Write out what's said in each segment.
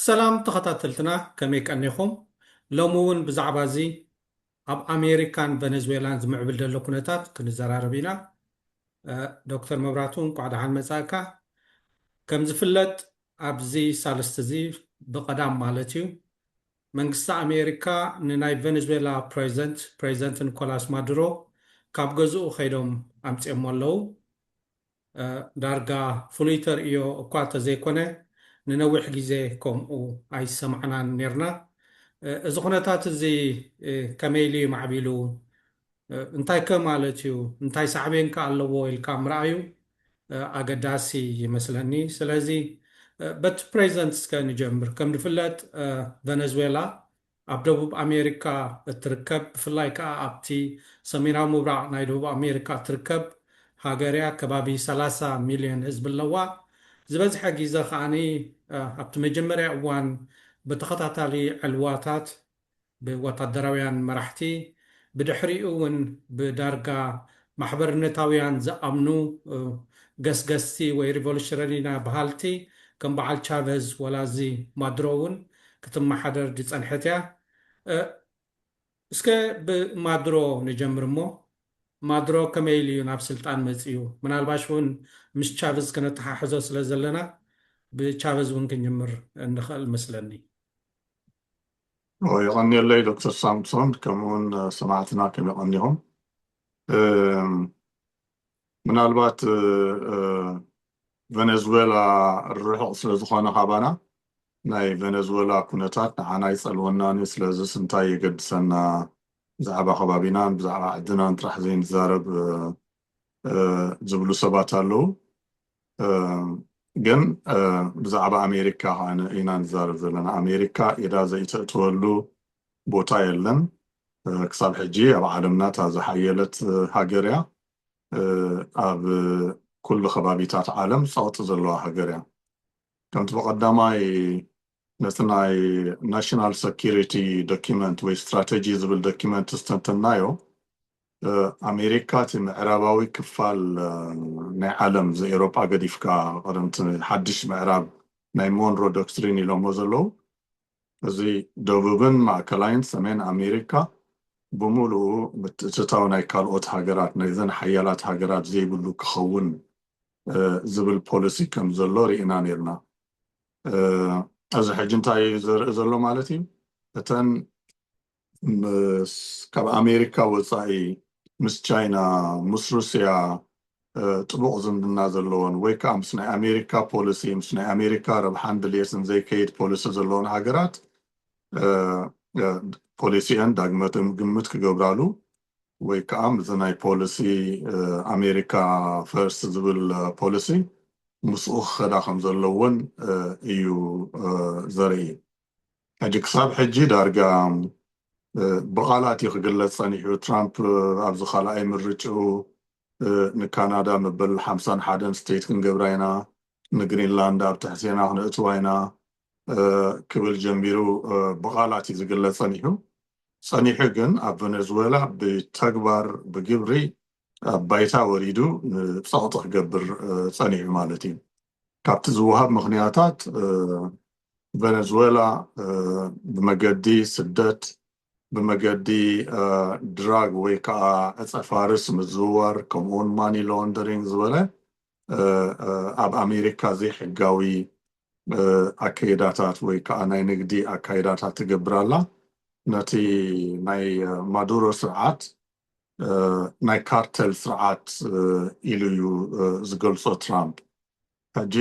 ሰላም ተኸታተልትና ከመይ ቀኒኹም ሎሚ እውን ብዛዕባ እዚ ኣብ ኣሜሪካን ቨነዝዌላን ዝምዕብል ዘሎ ኩነታት ክንዘራረብ ኢና ዶክተር መብራቱ እንኳዕ ደሓን መፃእካ ከም ዝፍለጥ ኣብዚ ሳልስቲ'ዚ ብቐዳም ማለት'ዩ፣ መንግስቲ ኣሜሪካ ንናይ ቨነዝዌላ ፕረዚደንት ፕረዚደንት ኒኮላስ ማዱሮ ካብ ገዝኡ ከይዶም ኣምጺኦሞ ኣለዉ። ዳርጋ ፍሉይ ተርእዮ እኳ እንተዘይኮነ ንነዊሕ ግዜ ከምኡ ኣይሰማዕናን ኔርና። እዚ ኩነታት'ዚ ከመይ ኢሉ'ዩ ማዕቢሉ? እንታይከ ማለት እዩ? እንታይ ሳዕቤንከ ኣለዎ? ኢልካ ምርኣዩ ኣገዳሲ ይመስለኒ። ስለዚ በቲ ፕሬዘንት እስከ ንጀምር። ከም ዝፍለጥ ቨነዝዌላ ኣብ ደቡብ ኣሜሪካ እትርከብ ብፍላይ ከኣ ኣብቲ ሰሜናዊ ምብራቕ ናይ ደቡብ ኣሜሪካ እትርከብ ሃገር እያ። ከባቢ ሰላሳ ሚልዮን ህዝቢ ኣለዋ። ዝበዝሐ ግዘ ከኣ ኣብቲ መጀመርያ እዋን ብተኸታታሊ ዕልዋታት ብወታደራውያን መራሕቲ ብድሕሪኡ እውን ብዳርጋ ማሕበርነታውያን ዝኣምኑ ገስገስቲ ወይ ሪቮሉሽረኒና በሃልቲ ከም በዓል ቻቨዝ ወላ እዚ ማድሮ እውን ክትመሓደር ዝጸንሐት እያ። እ እስከ ብማድሮ ንጀምር እሞ ማድሮ ከመይ ኢሉ እዩ ናብ ስልጣን መጺኡ ምናልባሽ እውን ምስ ቻቭዝ ከነተሓሕዞ ስለ ዘለና ብቻቨዝ እውን ክንጅምር እንኸእል እመስለኒ። የቐንየለይ ዶክተር ሳምሶን ከምኡ ውን ሰማዕትና ከም የቐንዮም ምናልባት ቨነዝዌላ ርሑቕ ስለ ዝኾነ ካባና ናይ ቨነዝዌላ ኩነታት ንዓና ኣይጸልወናን እዩ ስለዚስ እንታይ የገድሰና ብዛዕባ ከባቢናን ብዛዕባ ዓድናን ጥራሕ ዘይንዛረብ ዝብሉ ሰባት ኣለዉ ግን ብዛዕባ ኣሜሪካ ከኣ ኢና ንዛረብ ዘለና ኣሜሪካ ኢዳ ዘይተእትወሉ ቦታ የለን ክሳብ ሕጂ ኣብ ዓለምና እታ ዝሓየለት ሃገር እያ ኣብ ኩሉ ከባቢታት ዓለም ጸቕጢ ዘለዋ ሃገር እያ ከምቲ ብቐዳማይ ነቲ ናይ ናሽናል ሰኪሪቲ ደኩመንት ወይ ስትራተጂ ዝብል ደኩመንት ምስ ተንተንናዮ ኣሜሪካ እቲ ምዕራባዊ ክፋል ናይ ዓለም እዚ ኤሮጳ ገዲፍካ ቀደም እቲ ሓድሽ ምዕራብ ናይ ሞንሮ ዶክትሪን ኢሎሞ ዘለዉ እዚ ደቡብን ማእከላይን ሰሜን ኣሜሪካ ብምሉኡ ምትእትታው ናይ ካልኦት ሃገራት ናይዘን ሓያላት ሃገራት ዘይብሉ ክኸውን ዝብል ፖሊሲ ከም ዘሎ ርኢና ኔርና። እዚ ሕጂ እንታይ እዩ ዘርኢ ዘሎ ማለት እዩ እተን ምስ ካብ ኣሜሪካ ወፃኢ ምስ ቻይና ምስ ሩስያ ጥቡቕ ዝምድና ዘለዎን ወይ ከዓ ምስ ናይ ኣሜሪካ ፖሊሲ ምስ ናይ ኣሜሪካ ረብሓን ድልየትን ዘይከይድ ፖሊሲ ዘለዎን ሃገራት ፖሊሲአን ዳግመ ግምት ክገብራሉ ወይ ከኣ ምስዚ ናይ ፖሊሲ ኣሜሪካ ፈርስት ዝብል ፖሊሲ ምስኡ ክኸዳ ከም ዘለወን እዩ ዘርኢ። ሕጂ ክሳብ ሕጂ ዳርጋ ብቓላት እዩ ክግለጽ ጸኒሑ፣ ትራምፕ ኣብዚ ካልኣይ ምርጭኡ ንካናዳ መበል ሓምሳን ሓደን ስቴት ክንገብራ ኢና፣ ንግሪንላንድ ኣብ ትሕቴና ክነእትዋ ኢና፣ ክብል ጀሚሩ ብቓላት እዩ ዝግለጽ ጸኒሑ። ጸኒሑ ግን ኣብ ቨነዝወላ ብተግባር ብግብሪ ኣብ ባይታ ወሪዱ ንጸቕጢ ክገብር ጸኒሑ ማለት እዩ። ካብቲ ዝወሃብ ምኽንያታት ቨነዝወላ ብመገዲ ስደት፣ ብመገዲ ድራግ ወይ ከኣ ዕጸ ፋርስ ምዝውዋር ከምኡውን ማኒ ሎንደሪንግ ዝበለ ኣብ ኣሜሪካ ዘይሕጋዊ ኣከይዳታት ወይ ከዓ ናይ ንግዲ ኣካይዳታት ትገብር ኣላ። ነቲ ናይ ማዱሮ ስርዓት ናይ ካርተል ስርዓት ኢሉ እዩ ዝገልፆ ትራምፕ። ሕጂ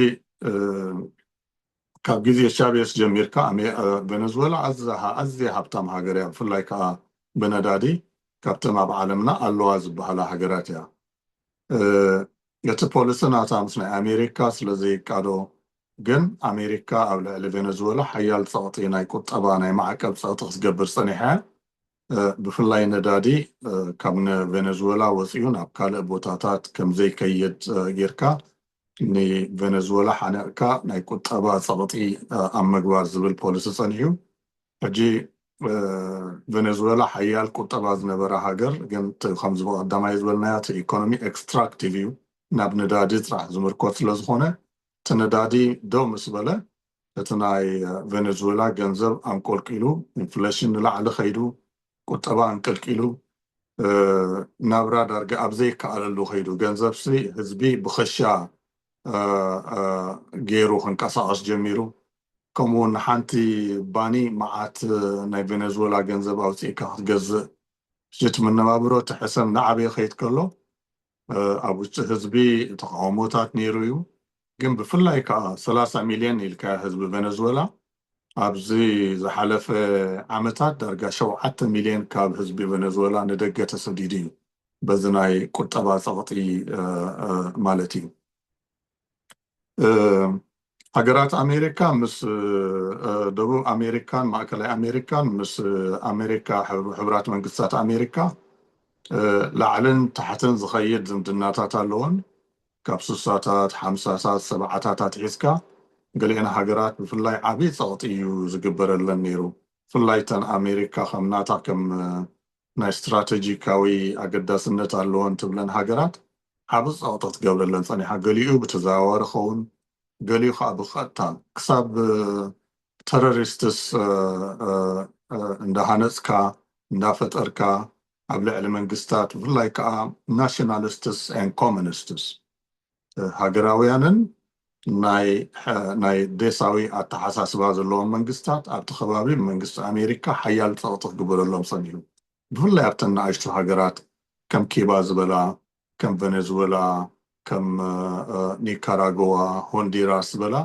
ካብ ግዜ ቻቤስ ጀሚርካ ቬነዝወላ ኣዝያ ሃብታም ሃገር እያ፣ ብፍላይ ከዓ ብነዳዲ ካብተን ኣብ ዓለምና ኣለዋ ዝበሃላ ሃገራት እያ። እቲ ፖሊሲ ናታ ምስ ናይ ኣሜሪካ ስለ ዘይቃዶ ግን ኣሜሪካ ኣብ ልዕሊ ቬነዝወላ ሓያል ጸቕጢ ናይ ቁጠባ ናይ ማዕቀብ ጸቕጢ ክትገብር ጸኒሓ እያ። ብፍላይ ነዳዲ ካብ ን ቬነዝወላ ወጺኡ ናብ ካልእ ቦታታት ከም ዘይከይድ ጌርካ ን ቬነዝወላ ሓኒቕካ ናይ ቁጠባ ጸቕጢ ኣብ ምግባር ዝብል ፖሊሲ ጸኒሑ። ሕጂ ቨነዝወላ ሓያል ቁጠባ ዝነበራ ሃገር ግን እቲ ከምዚ ብቀዳማይ ዝበልናዮ እቲ ኢኮኖሚ ኤክስትራክቲቭ እዩ ናብ ነዳዲ ጥራሕ ዝምርኮስ ስለ ዝኮነ እቲ ነዳዲ ደው ምስ በለ እቲ ናይ ቨነዝወላ ገንዘብ ኣንቆልቂሉ ኢንፍለሽን ንላዕሊ ከይዱ ቁጠባ ኣንቀልቂሉ ናብራ ዳርጋ ኣብ ዘይከኣለሉ ከይዱ ገንዘብሲ ህዝቢ ብከሻ ገይሩ ክንቀሳቀስ ጀሚሩ ከምኡ ውን ንሓንቲ ባኒ መዓት ናይ ቬነዝወላ ገንዘብ ኣውጺእካ ክትገዝእ ሽት መነባብሮ እቲ ሕሰም እናዓበየ ክኸይድ ከሎ ኣብ ውሽጢ ህዝቢ ተቓውሞታት ነይሩ እዩ ግን ብፍላይ ከኣ ሰላሳ ሚልዮን ኢልካዮ ህዝቢ ቬነዝወላ ኣብዚ ዝሓለፈ ዓመታት ዳርጋ ሸውዓተ ሚልዮን ካብ ህዝቢ ቬነዝወላ ንደገ ተሰዲዱ እዩ በዚ ናይ ቁጠባ ጸቕጢ ማለት እዩ። ሃገራት ኣሜሪካ ምስ ደቡብ ኣሜሪካን ማእከላይ ኣሜሪካን ምስ ኣሜሪካ ሕቡራት መንግስታት ኣሜሪካ ላዕልን ታሕትን ዝኸይድ ዝምድናታት ኣለወን። ካብ ስሳታት፣ ሓምሳታት፣ ሰብዓታት ኣትሒዝካ ገሊኤን ሃገራት ብፍላይ ዓቢ ጸቕጢ እዩ ዝግበረለን ነይሩ። ብፍላይ እተን ኣሜሪካ ከም ናታ ከም ናይ ስትራተጂካዊ ኣገዳስነት ኣለወን ትብለን ሃገራት ዓቢ ጸቕጢ ትገብረለን ጸኒሓ፣ ገሊኡ ብተዘዋዋሪ ክኸውን ገሊኡ ከኣ ብቐጥታ፣ ክሳብ ተረሪስትስ እንዳሃነጽካ እንዳፈጠርካ ኣብ ልዕሊ መንግስታት ብፍላይ ከኣ ናሽናልስትስ ኤንድ ኮሚኒስትስ ሃገራውያንን ናይ ዴሳዊ ኣተሓሳስባ ዘለዎም መንግስታት ኣብቲ ከባቢ ብመንግስቲ ኣሜሪካ ሓያል ጸቕጢ ክግበረሎም ጸኒሑ። ብፍላይ ኣብተን ንኣሽቱ ሃገራት ከም ኪባ ዝበላ፣ ከም ቨነዝወላ፣ ከም ኒካራጎዋ፣ ሆንዲራስ ዝበላ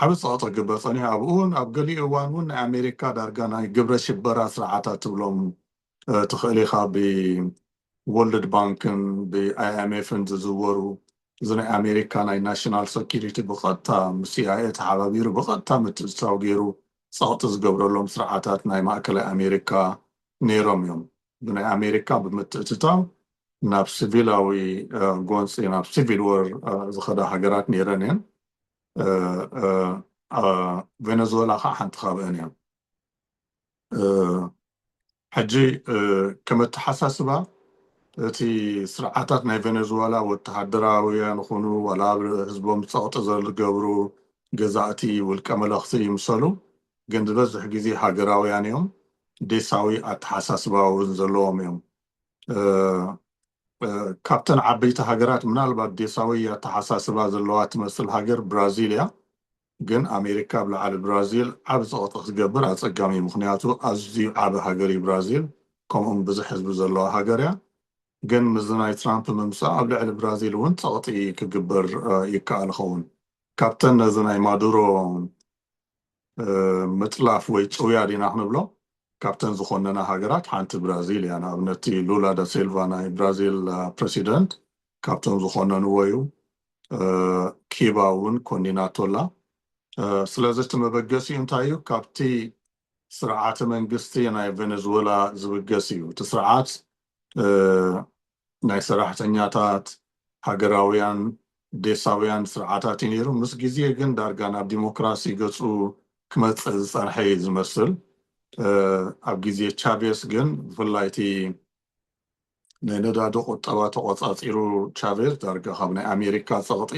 ዓቢ ጸቕጢ ክግበር ጸኒሑ። ኣብኡውን ኣብ ገሊኡ እዋንውን ናይ ኣሜሪካ ዳርጋ ናይ ግብረ ሽበራ ስርዓታት ትብሎም ትኽእል ኢኻ ብ ወርልድ ባንክን ብ ኣይኣይምኤፍን ዝዝወሩ እዚ ናይ ኣሜሪካ ናይ ናሽናል ሰኩሪቲ ብቀጥታ ምስ ሲኣይኤ ተሓባቢሩ ብቀጥታ ምትእትታው ገይሩ ጸቅጢ ዝገብረሎም ስርዓታት ናይ ማእከላይ ኣሜሪካ ነይሮም እዮም ብናይ ኣሜሪካ ብምትእትታው ናብ ስቪላዊ ጎንጺ ናብ ሲቪል ወር ዝኸዳ ሃገራት ነይረን እየን ቬነዝወላ ከዓ ሓንቲ ካብአን እያ ሕጂ ከም ኣተሓሳስባ እቲ ስርዓታት ናይ ቬነዝዋላ ወተሃደራውያን ይኹኑ ዋላ ኣብ ህዝቦም ጸቕጢ ዝገብሩ ገዛእቲ ውልቀ መለኽቲ ይምሰሉ ግን ዝበዝሕ ግዜ ሃገራውያን እዮም ዴሳዊ ኣተሓሳስባ እውን ዘለዎም እዮም ካብተን ዓበይቲ ሃገራት ምናልባት ዴሳዊ ኣተሓሳስባ ዘለዋ ትመስል ሃገር ብራዚል እያ ግን ኣሜሪካ ኣብ ልዓሊ ብራዚል ዓቢ ጸቕጢ ክትገብር ኣጸጋሚ እዩ ምኽንያቱ ኣዝዩ ዓቢ ሃገር እዩ ብራዚል ከምኡውን ብዙሕ ህዝቢ ዘለዋ ሃገር እያ ግን ምስዚ ናይ ትራምፕ ምምጻእ ኣብ ልዕሊ ብራዚል እውን ጸቕጢ ክግበር ይከኣል ይኸውን ካብተን ነዚ ናይ ማዱሮ ምጥላፍ ወይ ጭውያ ዲና ክንብሎ ካብተን ዝኾነና ሃገራት ሓንቲ ብራዚል እያ ንኣብነቲ ሉላ ዳሴልቫ ናይ ብራዚል ፕረሲደንት ካብቶም ዝኮነንዎ እዩ ኪባ እውን ኮኒናቶ ኣላ ስለዚ እቲ መበገሲኡ እንታይ እዩ ካብቲ ስርዓተ መንግስቲ ናይ ቬነዝወላ ዝብገስ እዩ እቲ ስርዓት ናይ ሰራሕተኛታት ሃገራውያን ዴሳውያን ስርዓታት እዩ ነይሩ ምስ ግዜ ግን ዳርጋ ናብ ዲሞክራሲ ገጹ ክመጽእ ዝጸንሐ እዩ ዝመስል ኣብ ግዜ ቻቬስ ግን ብፍላይ እቲ ንነዳዲ ቁጠባ ተቖጻጺሩ ቻቬዝ ዳርጋ ካብ ናይ ኣሜሪካ ጸቕጢ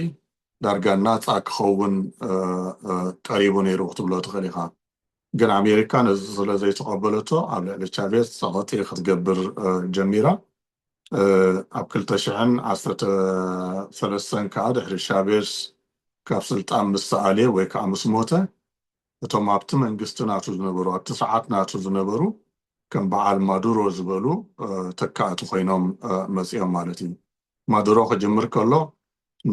ዳርጋ ናጻ ክኸውን ቀሪቡ ነይሩ ክትብሎ ትኽእል ኢኻ። ግን ኣሜሪካ ነዚ ስለ ዘይተቐበለቶ ኣብ ልዕሊ ቻቬዝ ጸቕጢ ክትገብር ጀሚራ። ኣብ ክልተ ሽሕን ዓሰርተ ሰለስተን ከኣ ድሕሪ ቻቬዝ ካብ ስልጣን ምስ ተኣልየ ወይ ከኣ ምስ ሞተ እቶም ኣብቲ መንግስቲ ናቱ ዝነበሩ፣ ኣብቲ ሰዓት ናቱ ዝነበሩ ከም በዓል ማዱሮ ዝበሉ ተካእቲ ኮይኖም መጺኦም ማለት እዩ። ማዱሮ ክጅምር ከሎ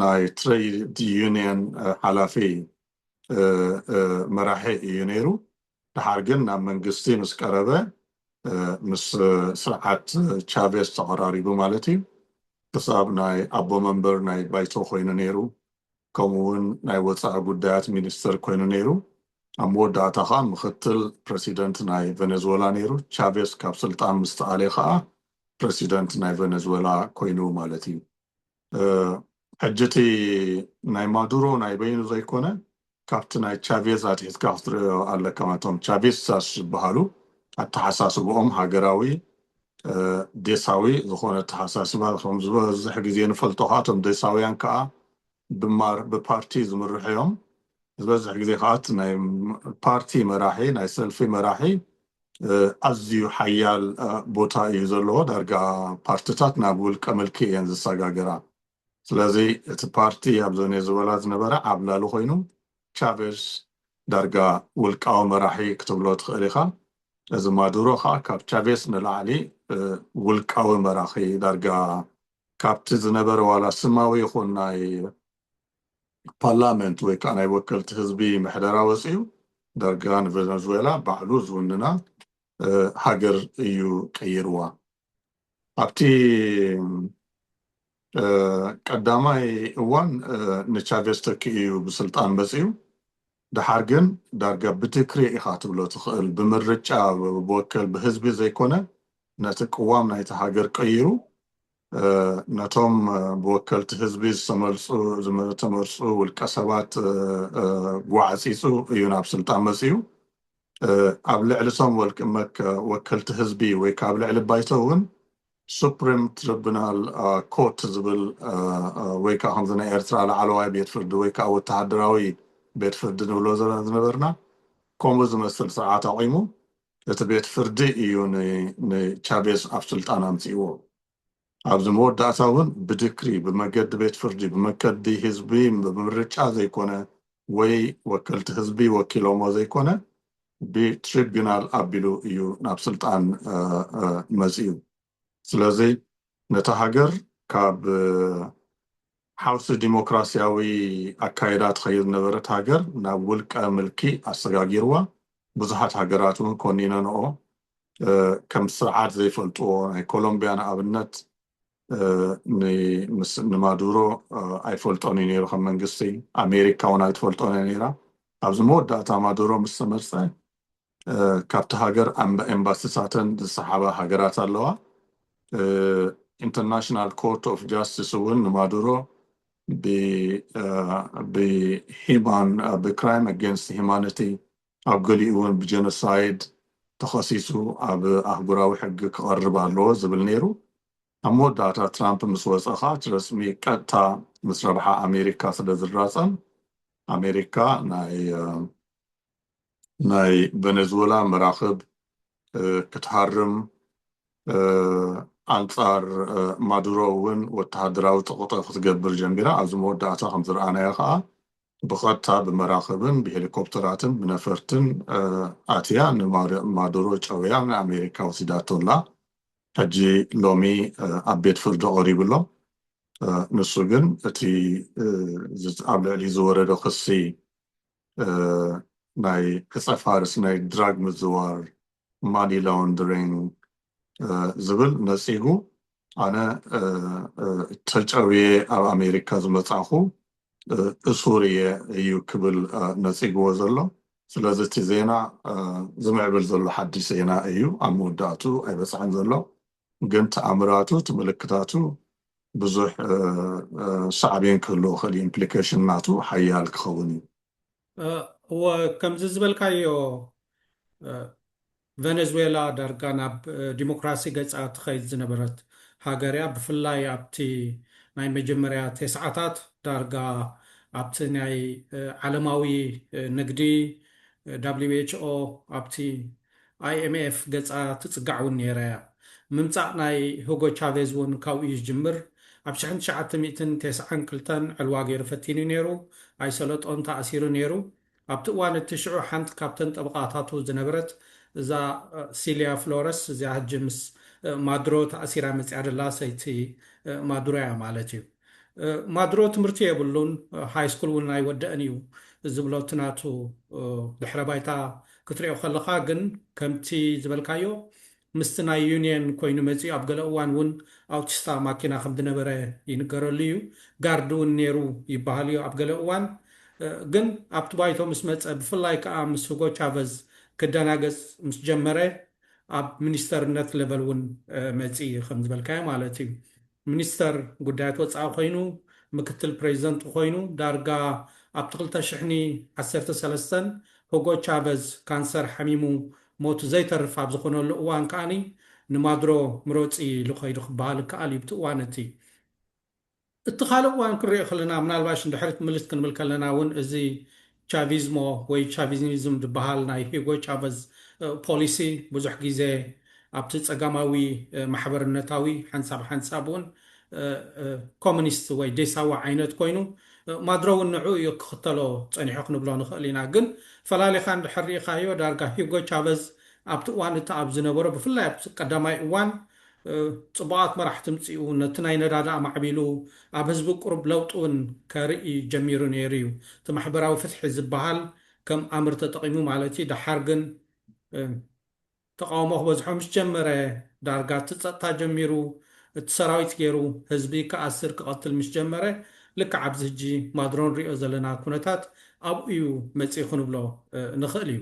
ናይ ትረይድ ዩንየን ሓላፊ መራሒ እዩ ነይሩ። ደሓር ግን ናብ መንግስቲ ምስ ቀረበ ምስ ስርዓት ቻቬስ ተቐራሪቡ ማለት እዩ ክሳብ ናይ ኣቦ መንበር ናይ ባይቶ ኮይኑ ነይሩ። ከምኡ'ውን ናይ ወጻኢ ጉዳያት ሚኒስተር ኮይኑ ነይሩ። ኣብ መወዳእታ ከኣ ምኽትል ፕረሲደንት ናይ ቨነዝወላ ነይሩ። ቻቬስ ካብ ስልጣን ምስ ተኣልየ ከኣ ፕረሲደንት ናይ ቨነዝወላ ኮይኑ ማለት እዩ። ሕጂ እቲ ናይ ማዱሮ ናይ በይኑ ዘይኮነ ካብቲ ናይ ቻቬዝ ኣትሒትካ ክትርእዮ ኣለካ። እቶም ቻቪስታስ ዝበሃሉ ኣተሓሳስብኦም ሃገራዊ ዴሳዊ ዝኾነ ኣተሓሳስባ ከም ዝበዝሕ ግዜ ንፈልጦ ከኣ እቶም ዴሳውያን ከኣ ብማር ብፓርቲ ዝምርሑ እዮም ዝበዝሕ ግዜ ከኣ እቲ ናይ ፓርቲ መራሒ ናይ ሰልፊ መራሒ ኣዝዩ ሓያል ቦታ እዩ ዘለዎ ዳርጋ ፓርትታት ናብ ውልቀ ምልኪ እየን ዝሰጋገራ ስለዚ እቲ ፓርቲ ኣብ ዞኔዙወላ ዝነበረ ዓብላሊ ኮይኑ ቻቬዝ ዳርጋ ውልቃዊ መራሒ ክትብሎ ትኽእል ኢኻ እዚ ማዱሮ ኸኣ ካብ ቻቬዝ ንላዕሊ ውልቃዊ መራኺ ዳርጋ ካብቲ ዝነበረ ዋላ ስማዊ ይኹን ናይ ፓርላመንት ወይ ከኣ ናይ ወከልቲ ህዝቢ ምሕደራ ወጺኡ ዳርጋ ንቨነዙዌላ ባዕሉ ዝውንና ሃገር እዩ ቀይርዋ። ኣብቲ ቀዳማይ እዋን ንቻቬስ ተኪኡ እዩ ብስልጣን መጺኡ። ደሓር ግን ዳርጋ ብድክሪ ኢኻ ትብሎ ትኽእል ብምርጫ ብወከል ብህዝቢ ዘይኮነ ነቲ ቅዋም ናይቲ ሃገር ቀይሩ ነቶም ብወከልቲ ህዝቢ ዝተመልጹ ዝተመርጹ ውልቀሰባት ጓዕጺጹ እዩ ናብ ስልጣን መጺኡ። ኣብ ልዕሊ እቶም ወልቂ መከ ወከልቲ ህዝቢ ወይ ከኣ ኣብ ልዕሊ ባይቶ እውን ሱፕሪም ትሪቡናል ኮርት ዝብል ወይ ከዓ ከምዚ ናይ ኤርትራ ላዕለዋይ ቤት ፍርዲ ወይ ከዓ ወተሃደራዊ ቤት ፍርዲ ንብሎ ዝነበርና ከምኡ ዝመስል ስርዓት ኣቑሙ እቲ ቤት ፍርዲ እዩ ንቻቤዝ ኣብ ስልጣን ኣምፂእዎ። ኣብዚ መወዳእታ እውን ብድክሪ፣ ብመገዲ ቤት ፍርዲ፣ ብመከዲ ህዝቢ ብምርጫ ዘይኮነ ወይ ወከልቲ ህዝቢ ወኪሎሞ ዘይኮነ ብትሪብዩናል ኣቢሉ እዩ ናብ ስልጣን መፂኡ። ስለዚ ነታ ሃገር ካብ ሓውሲ ዲሞክራሲያዊ ኣካይዳ ትኸይድ ዝነበረት ሃገር ናብ ውልቀ ምልኪ ኣሰጋጊርዋ። ብዙሓት ሃገራት እውን ኮኒነንኦ ከም ስርዓት ዘይፈልጥዎ ናይ ኮሎምብያ ንኣብነት ንማዱሮ ኣይፈልጦን እዩ ነይሩ ከም መንግስቲ ኣሜሪካ እውን ኣይትፈልጦን እያ ነይራ ኣብዚ መወዳእታ ማዱሮ ምስ ተመርፀ ካብቲ ሃገር ኣንባ ኤምባሲታተን ዝሰሓባ ሃገራት ኣለዋ ኢንተርናሽናል ኮርት ኦፍ ጃስቲስ እውን ንማዱሮ ብሂማን ብክራይም ኣጌንስት ሂማኒቲ ኣብ ገሊኡ እውን ብጀኖሳይድ ተኸሲሱ ኣብ ኣህጉራዊ ሕጊ ክቐርብ ኣለዎ ዝብል ነይሩ። ኣብ መወዳእታ ትራምፕ ምስ ወፀ ከኣ እቲ ረፅሚ ቀጥታ ምስ ረብሓ ኣሜሪካ ስለ ዝራፀም ኣሜሪካ ናይ ናይ ቨነዝወላ መራኽብ ክትሃርም ኣንጻር ማዱሮ እውን ወተሃደራዊ ጸቕጢ ክትገብር ጀሚራ። ኣብዚ መወዳእታ ከም ዝረኣናዮ ከኣ ብቐጥታ ብመራኽብን ብሄሊኮፕተራትን ብነፈርትን ኣትያ ንማዱሮ ጨውያ ንኣሜሪካ ወሲዳቶ ኣላ። ሕጂ ሎሚ ኣብ ቤት ፍርዲ ቀሪቡ ኣሎ። ንሱ ግን እቲ ኣብ ልዕሊኡ ዝወረደ ክሲ ናይ ዕጸ ፋርስ፣ ናይ ድራግ ምዝዋር፣ ማኒ ላውንደሪንግ፣ ዝብል ነጺጉ ኣነ ተጨውየ ኣብ ኣሜሪካ ዝመጻእኹ እሱር እየ እዩ ክብል ነጺግዎ ዘሎ። ስለዚ እቲ ዜና ዝምዕብል ዘሎ ሓድሽ ዜና እዩ፣ ኣብ መወዳእትኡ ኣይበጽሐን ዘሎ። ግን ተኣምራቱ እቲ ምልክታቱ ብዙሕ ሳዕቤን ክህልዎ ይኽእል እዩ፣ ኢምፕሊኬሽን ናቱ ሓያል ክኸውን እዩ። እወ ከምዚ ዝበልካዮ ቨነዝዌላ ዳርጋ ናብ ዲሞክራሲ ገጻ ትኸይድ ዝነበረት ሃገር'ያ። ብፍላይ ኣብቲ ናይ መጀመርያ ቴስዓታት ዳርጋ ኣብቲ ናይ ዓለማዊ ንግዲ፣ WHO፣ ኣብቲ IMF ገጻ ትጽጋዕ እውን ነይራ'ያ። ምምጻእ ናይ ሁጎ ቻቬዝ እውን ካብኡ'ዩ ዝጅምር። ኣብ ሽሕን ትሽዓተ ሚእትን ቴስዓን ክልተን ዕልዋ ገይሩ ፈቲኑ'ዩ ነይሩ። ኣይሰለጦን ተኣሲሩ ነይሩ። ኣብቲ እዋን እቲ ሽዑ ሓንቲ ካብተን ጠበቓታቱ ዝነበረት እዛ ሲልያ ፍሎረስ እዚኣ ሕጂ ምስ ማዱሮ ተኣሲራ መጺኣ ዘላ ሰይቲ ማዱሮ እያ ማለት እዩ። ማዱሮ ትምህርቲ የብሉን፣ ሃይስኩል እውን ኣይወደእን እዩ ዝብሎ እቲ ናቱ ድሕረ ባይታ ክትሪኦ ከለኻ ግን ከምቲ ዝበልካዮ ምስቲ ናይ ዩንየን ኮይኑ መጺኡ ኣብ ገለ እዋን ውን ኣውቲስታ ማኪና ከም ድነበረ ይንገረሉ እዩ ጋርድ ውን ኔሩ ይባሃል እዩ ኣብ ገለ እዋን ግን ኣብቲ ባይቶ ምስ መጸ ብፍላይ ከኣ ምስ ሁጎ ቻቨዝ ክደናገጽ ምስ ጀመረ ኣብ ሚኒስተርነት ለቨል ውን መጺ ከም ዝበልካዮ ማለት እዩ ሚኒስተር ጉዳያት ወጻኢ ኮይኑ፣ ምክትል ፕረዚደንት ኮይኑ፣ ዳርጋ ኣብቲ ክልተ ሽሕኒ ዓሰርተ ሰለስተን ሁጎ ቻቨዝ ካንሰር ሓሚሙ ሞቱ ዘይተርፍ ኣብ ዝኾነሉ እዋን ከኣ ንማዱሮ ምረጹ ኢሉ ከይዱ ክበሃል ይከኣል እዩ ብቲ እዋን እቲ። እቲ ካልእ እዋን ክንሪኦ ከለና ምናልባሽ ንድሕሪት ምልስ ክንብል ከለና እውን እዚ ቻቪዝሞ ወይ ቻቪዝኒዝም ዝበሃል ናይ ሂጎ ቻቨዝ ፖሊሲ ብዙሕ ግዜ ኣብቲ ጸጋማዊ ማሕበርነታዊ ሓንሳብ ሓንሳብ እውን ኮሚኒስት ወይ ዴሳዊ ዓይነት ኮይኑ ማድሮ እውን ንዕኡ እዩ ክኽተሎ ጸኒሑ ክንብሎ ንኽእል ኢና። ግን ፈላሊኻ እንድሕር ርኢኻዮ ዳርጋ ሂጎ ቻቨዝ ኣብቲ እዋን እቲ ኣብ ዝነበሮ ብፍላይ ኣብቲ ቀዳማይ እዋን ጽቡቓት መራሕቲ ምጺኡ ነቲ ናይ ነዳዲ ኣማዕቢሉ ኣብ ህዝቢ ቁሩብ ለውጢ ውን ከርኢ ጀሚሩ ነይሩ ዩ እቲ ማሕበራዊ ፍትሒ ዝብሃል ከም ኣምር ተጠቒሙ ማለት ዩ ደሓር ግን ተቓውሞ ክበዝሖ ምስ ጀመረ ዳርጋ እቲ ጸጥታ ጀሚሩ እቲ ሰራዊት ገይሩ ህዝቢ ክኣስር ክቐትል ምስ ጀመረ ልክዕ ኣብዚ ህጂ ማድሮ ንሪኦ ዘለና ኩነታት ኣብኡ ዩ መጺኡ ክንብሎ ንኽእል ዩ።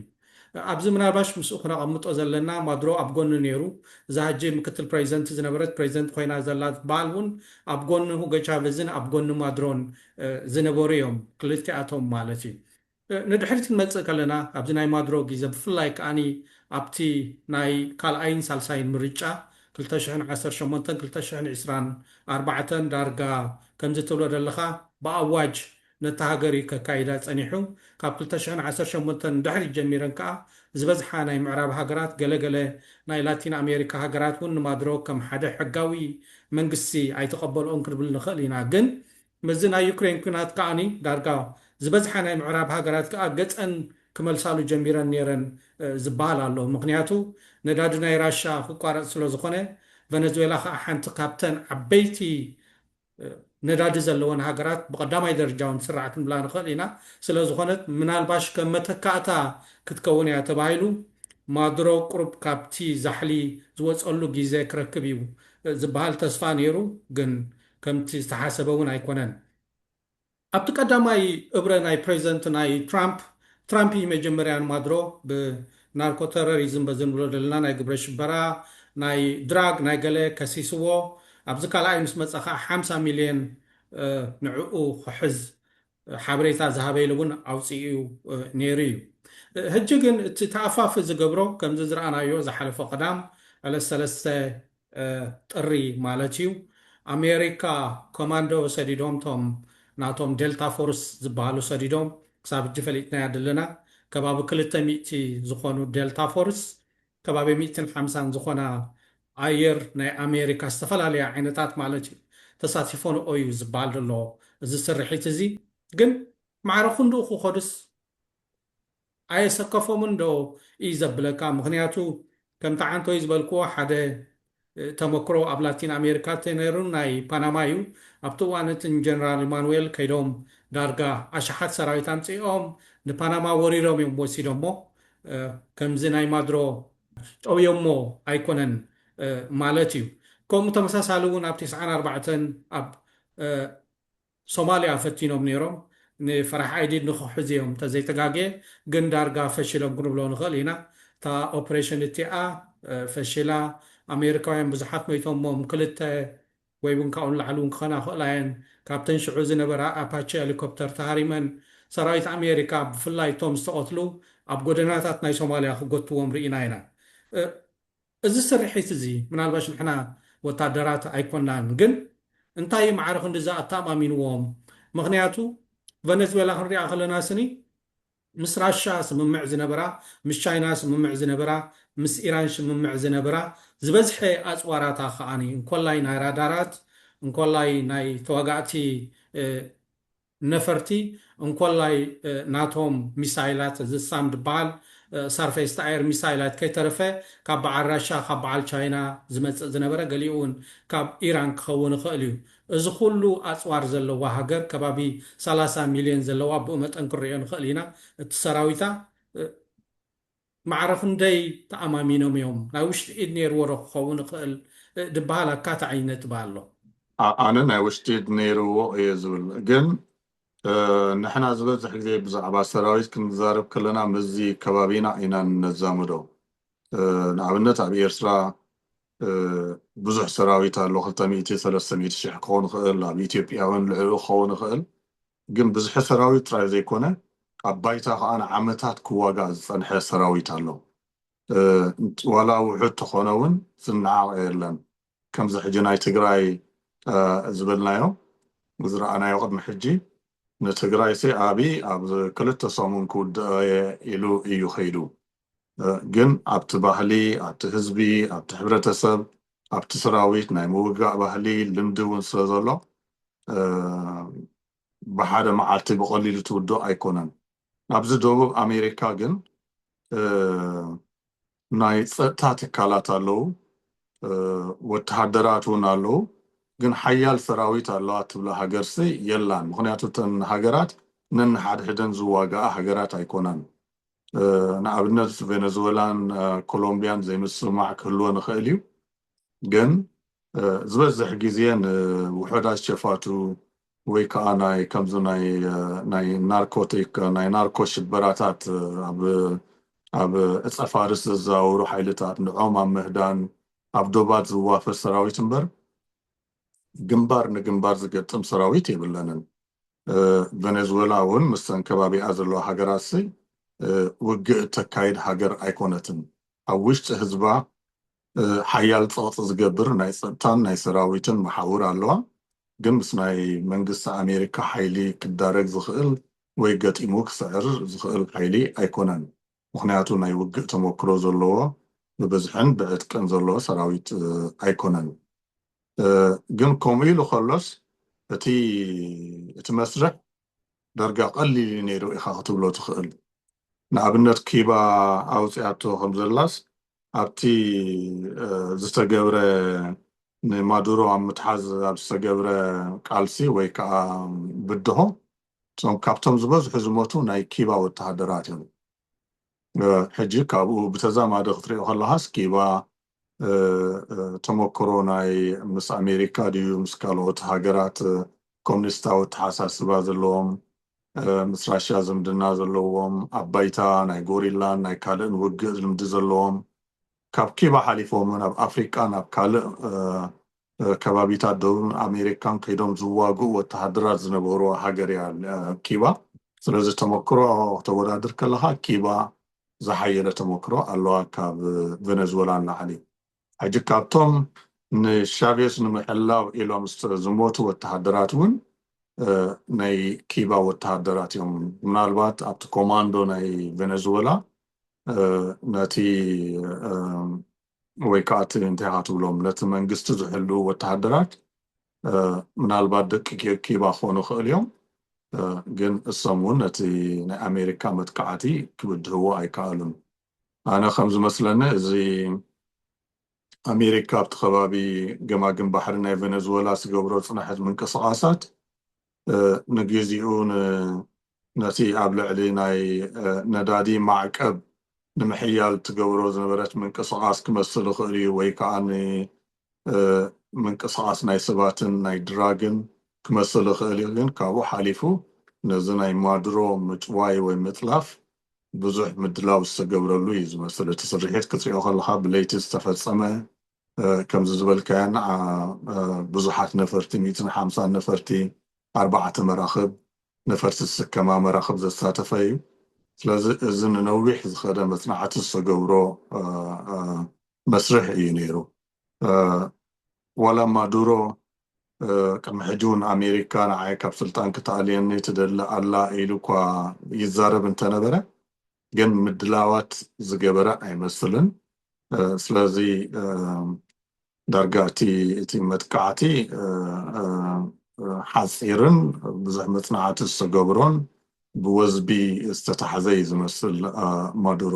ኣብዚ ምናልባሽ ምስኡ ክነቐምጦ ዘለና ማዱሮ ኣብ ጎኑ ነይሩ፣ እዛ ሕጂ ምክትል ፕረዚደንት ዝነበረት ፕረዚደንት ኮይና ዘላ ትበሃል እውን ኣብ ጎኒ ሁጎ ቻቨዝን ኣብ ጎኒ ማዱሮን ዝነበሩ እዮም፣ ክልቲኣቶም ማለት እዩ። ንድሕሪት ክንመጽእ ከለና ኣብዚ ናይ ማዱሮ ግዜ ብፍላይ ከኣ ኣብቲ ናይ ካልኣይን ሳልሳይን ምርጫ ክልተ ሽሕን ዓሰርተ ሸሞንተን ክልተ ሽሕን ዕስራን ኣርባዕተን ዳርጋ ከምዚ ትብሎ ዘለኻ ብኣዋጅ ነታ ሃገር እዩ ከካይዳ ጸኒሑ። ካብ ክልተ ሽሕን ዓሰርተ ሸሞንተን ንድሕሪት ጀሚረን ከኣ ዝበዝሓ ናይ ምዕራብ ሃገራት ገለ ገለ ናይ ላቲን ኣሜሪካ ሃገራት እውን ንማድሮ ከም ሓደ ሕጋዊ መንግስቲ ኣይተቐበልኦን ክንብል ንኽእል ኢና ግን ምስዚ ናይ ዩክሬን ኲናት ከኣ ዳርጋ ዝበዝሓ ናይ ምዕራብ ሃገራት ከኣ ገጸን ክመልሳሉ ጀሚረን ነይረን ዝበሃል ኣሎ ምኽንያቱ ነዳዲ ናይ ራሻ ክቋረጽ ስለዝኾነ ቨነዝዌላ ከኣ ሓንቲ ካብተን ዓበይቲ ነዳዲ ዘለወን ሃገራት ብቐዳማይ ደርጃ ውን ትስራዕ ክንብላ ንኽእል ኢና። ስለዝኾነት ምናልባሽ ከም መተካእታ ክትከውን እያ ተባሂሉ ማዱሮ ቁሩብ ካብቲ ዛሕሊ ዝወጸሉ ጊዘ ክረክብ እዩ ዝብሃል ተስፋ ኔሩ ግን ከምቲ ዝተሓሰበ ውን ኣይኮነን። ኣብቲ ቀዳማይ እብረ ናይ ፕረዚደንት ናይ ትራምፕ፣ ትራምፕ እዪ መጀመርያ ንማድሮ ብናርኮ ተረሪዝም በዚ ንብሎ ደለና ናይ ግብረ ሽበራ፣ ናይ ድራግ፣ ናይ ገለ ከሲስዎ፣ ኣብዚ ካልኣይ ምስ መጸ ከኣ ሓምሳ ሚልዮን ንዕኡ ክሕዝ ሓበሬታ ዝሃበ ኢሉ ውን ኣውጺኡ ኔሩ እዩ። ህጂ ግን እቲ ተኣፋፊ ዝገብሮ ከምዚ ዝረኣናዮ ዝሓለፈ ቀዳም ዕለት ሰለስተ ጥሪ ማለት እዩ ኣሜሪካ ኮማንዶ ሰዲዶም እቶም ናቶም ዴልታ ፎርስ ዝባሃሉ ሰዲዶም ክሳብ ሕጂ ፈሊጥናዮ ኣድለና ከባቢ ክልተ ሚእቲ ዝኾኑ ዴልታ ፎርስ ከባቢ ሚእትን ሓምሳን ዝኾና ኣየር ናይ ኣሜሪካ ዝተፈላለያ ዓይነታት ማለት እዩ ተሳቲፎንኦ እዩ ዝባሃል ደሎ እዚ ስርሒት እዚ ግን ማዕረ ክንድኡ ክኸዱስ ኣየሰከፎምን ዶ ኢዩ ዘብለካ ምኽንያቱ ከምቲ ዓንቶይ ዝበልክዎ ሓደ ተመክሮ ኣብ ላቲን ኣሜሪካ ተነሩ ናይ ፓናማ ኢዩ ኣብቲ እዋን እቲ ንጀነራል ኢማኑኤል ከይዶም ዳርጋ ኣሽሓት ሰራዊት ኣምጺኦም ንፓናማ ወሪሮም ኢዮም ወሲዶሞ ከምዚ ናይ ማድሮ ጠውዮሞ ኣይኮነን ማለት ኢዩ ከምኡ ተመሳሳሊ ውን ኣብ ቴስዓን ኣርባዕተን ኣብ። ሶማልያ ፈቲኖም ነይሮም ንፈራሕ ኣይዲድ ንክሕዙ እዮም ተዘይተጋግየ ግን ዳርጋ ፈሺሎም ክንብሎ ንክእል ኢና እታ ኦፕሬሽን እቲኣ ፈሺላ ኣሜሪካውያን ብዙሓት ሞይቶሞም ክልተ ወይ ውን ካብኡ ንላዕሊ ውን ክኾና ይኽእላ እየን ካብተን ሽዑ ዝነበራ ኣፓቸ ሄሊኮፕተር ተሃሪመን ሰራዊት ኣሜሪካ ብፍላይ እቶም ዝተቐትሉ ኣብ ጎደናታት ናይ ሶማልያ ክጎትዎም ርኢና ኢና እዚ ስርሒት እዚ ምናልባሽ ንሕና ወታደራት ኣይኮናን ግን እንታይ እዩ ማዕረ ክንድዚ ኣተኣማሚንዎም ምኽንያቱ ቨነዝዌላ ክንሪኣ ከለና ስኒ ምስ ራሻ ስምምዕ ዝነበራ ምስ ቻይና ስምምዕ ዝነበራ ምስ ኢራን ሽምምዕ ዝነብራ ዝበዝሐ ኣጽዋራታ ከኣ እንኮላይ ናይ ራዳራት እንኮላይ ናይ ተዋጋእቲ ነፈርቲ እንኮላይ ናቶም ሚሳይላት እዚ ሳም ድበሃል ሳርፌስ ቱ ኣየር ሚሳይላት ከይተረፈ ካብ በዓል ራሻ ካብ በዓል ቻይና ዝመጽእ ዝነበረ ገሊኡ ውን ካብ ኢራን ክኸውን ይኽእል እዩ እዚ ኩሉ ኣጽዋር ዘለዋ ሃገር ከባቢ ሰላሳ ሚልዮን ዘለዋ ብኡ መጠን ክንርእዮ ንኽእል ኢና እቲ ሰራዊታ ማዕረ ክንደይ ተኣማሚኖም እዮም ናይ ውሽጢ ኢድ ነይርዎ ዶ ክኸውን ይኽእል ድበሃል ኣካታዒ ነጥቢ ኣሎ። ኣነ ናይ ውሽጢ ኢድ ነይርዎ እየ ዝብል ግን ንሕና ዝበዝሕ ግዜ ብዛዕባ ሰራዊት ክንዛረብ ከለና ምስዚ ከባቢና ኢና ነዛምዶ ንኣብነት ኣብ ኤርትራ ብዙሕ ሰራዊት ኣሎ ክልተ ሚእቲ ሰለስተ ሚእቲ ሽሕ ክኾን ይኽእል ኣብ ኢትዮጵያ ውን ልዕሊኡ ክኸውን ይኽእል ግን ብዝሒ ሰራዊት ጥራይ ዘይኮነ ኣብ ባይታ ከኣ ንዓመታት ክዋጋእ ዝጸንሐ ሰራዊት ኣሎ ዋላ ውሑድ ተኮነ ውን ዝናዓቀ የለን ከምዚ ሕጂ ናይ ትግራይ ዝበልናዮ ዝራኣናዮ ቅድሚ ሕጂ ንትግራይሲ ኣብይ ኣብ ክልተ ሰሙን ክውድኦየ ኢሉ ኢዩ ከይዱ ግን ኣብቲ ባህሊ ኣብቲ ህዝቢ ኣብቲ ሕብረተሰብ ኣብቲ ሰራዊት ናይ ምውጋእ ባህሊ ልምዲ እውን ስለ ዘሎ ብሓደ መዓልቲ ብቐሊሉ ትውድኦ ኣይኮነን። ኣብዚ ደቡብ ኣሜሪካ ግን ናይ ጸጥታ ትካላት ኣለዉ፣ ወተሃደራት እውን ኣለዉ፣ ግን ሓያል ሰራዊት ኣለዋ ትብላ ሃገርሲ የላን። ምኽንያቱ እተን ሃገራት ነንሓድሕደን ዝዋጋኣ ሃገራት ኣይኮናን። ንኣብነት ቬነዝወላን ኮሎምብያን ዘይምስምማዕ ክህልዎ ንኽእል እዩ ግን ዝበዝሕ ግዜ ንውሑዳት ሸፋቱ ወይ ከዓ ናይ ከምዚ ናይ ናርኮቲክ ናይ ናርኮ ሽበራታት ኣብ ዕፀ ፋርስ ዘዘዋውሩ ሓይልታት ንዖም ኣብ ምህዳን ኣብ ዶባት ዝዋፈር ሰራዊት እምበር ግንባር ንግንባር ዝገጥም ሰራዊት የብለንን ቨነዝወላ ውን ምስተን ከባቢኣ ዘለዋ ሃገራትሲ ውግእ እተካይድ ሃገር ኣይኮነትን ኣብ ውሽጢ ህዝባ ሓያል ጸቕጢ ዝገብር ናይ ጸጥታን ናይ ሰራዊትን መሓውር ኣለዋ ግን ምስ ናይ መንግስቲ ኣሜሪካ ሓይሊ ክዳረግ ዝኽእል ወይ ገጢሙ ክስዕር ዝኽእል ሓይሊ ኣይኮነን። ምኽንያቱ ናይ ውግእ ተመኩሮ ዘለዎ ብብዝሕን ብዕጥቅን ዘለዎ ሰራዊት ኣይኮነን ግን ከምኡ ኢሉ ከሎስ እቲ እቲ መስርሕ ዳርጋ ቀሊል እዩ ነይሩ ኢኻ ክትብሎ ትኽእል ንኣብነት ኪባ ኣውጺኣቶ ከምዘላስ ኣብቲ ዝተገብረ ንማዱሮ ኣብ ምትሓዝ ኣብ ዝተገብረ ቃልሲ ወይ ከኣ ብድሆ እቶም ካብቶም ዝበዝሑ ዝሞቱ ናይ ኪባ ወተሃደራት እዮም። ሕጂ ካብኡ ብተዛማዲ ክትሪኦ ከለኻስ ኪባ ተመክሮ ናይ ምስ ኣሜሪካ ድዩ ምስ ካልኦት ሃገራት ኮሚኒስታዊ ኣተሓሳስባ ዘለዎም ምስ ራሽያ ዝምድና ዘለዎም ኣብ ባይታ ናይ ጎሪላን ናይ ካልእን ውግእ ልምዲ ዘለዎም ካብ ኪባ ሓሊፎም ውን ኣብ ኣፍሪቃን ኣብ ካልእ ከባቢታት ደቡብ ኣሜሪካን ከይዶም ዝዋግኡ ወተሃደራት ዝነበሩዋ ሃገር እያ ኪባ። ስለዚ ተመክሮ ክተወዳድር ከለኻ ኪባ ዝሓየለ ተመክሮ ኣለዋ ካብ ቨነዝወላ ንላዕሊ። ሕጂ ካብቶም ንሻቬዝ ንምሕላው ኢሎም ዝሞቱ ወተሃደራት እውን ናይ ኪባ ወተሃደራት እዮም። ምናልባት ኣብቲ ኮማንዶ ናይ ቨነዝወላ ነቲ ወይ ከኣ እቲ እንታይ ኢኻ ትብሎም ነቲ መንግስቲ ዝሕልዉ ወተሃደራት ምናልባት ደቂ ኪባ ክኾኑ ይኽእሉ እዮም ግን እሶም እውን ነቲ ናይ ኣሜሪካ መጥቃዕቲ ክብድህዎ ኣይከኣሉን ኣነ ከም ዝመስለኒ እዚ ኣሜሪካ ኣብቲ ከባቢ ገማግም ባሕሪ ናይ ቨነዝወላ ዝገብሮ ፅንሐት ምንቅስቓሳት ንግዚኡ ነቲ ኣብ ልዕሊ ናይ ነዳዲ ማዕቀብ ንምሕያል ትገብሮ ዝነበረት ምንቅስቃስ ክመስል ይኽእል እዩ ወይ ከኣ ንምንቅስቃስ ናይ ሰባትን ናይ ድራግን ክመስል ይኽእል እዩ ግን ካብኡ ሓሊፉ ነዚ ናይ ማዱሮ ምጭዋይ ወይ ምጥላፍ ብዙሕ ምድላው ዝተገብረሉ እዩ ዝመስል እቲ ስርሒት ክትሪኦ ከለኻ ብለይቲ ዝተፈጸመ ከምዚ ዝበልካዮ ንዓ ብዙሓት ነፈርቲ ሚእትን ሓምሳን ነፈርቲ ኣርባዕተ መራኽብ ነፈርቲ ዝስከማ መራኽብ ዘሳተፈ እዩ ስለዚ እዚ ንነዊሕ ዝኸደ መፅናዕቲ ዝተገብሮ መስርሕ እዩ ነይሩ ዋላ ማዱሮ ቅድሚ ሕጂ እውን ኣሜሪካ ንዓይ ካብ ስልጣን ክትኣልየኒ ትደሊ ኣላ ኢሉ እኳ ይዛረብ እንተነበረ ግን ምድላዋት ዝገበረ ኣይመስልን ስለዚ ዳርጋ እቲ መጥቃዕቲ ሓፂርን ብዙሕ መፅናዕቲ ዝተገብሮን ብወዝቢ ዝተታሕዘ እዩ ዝመስል ማዱሮ።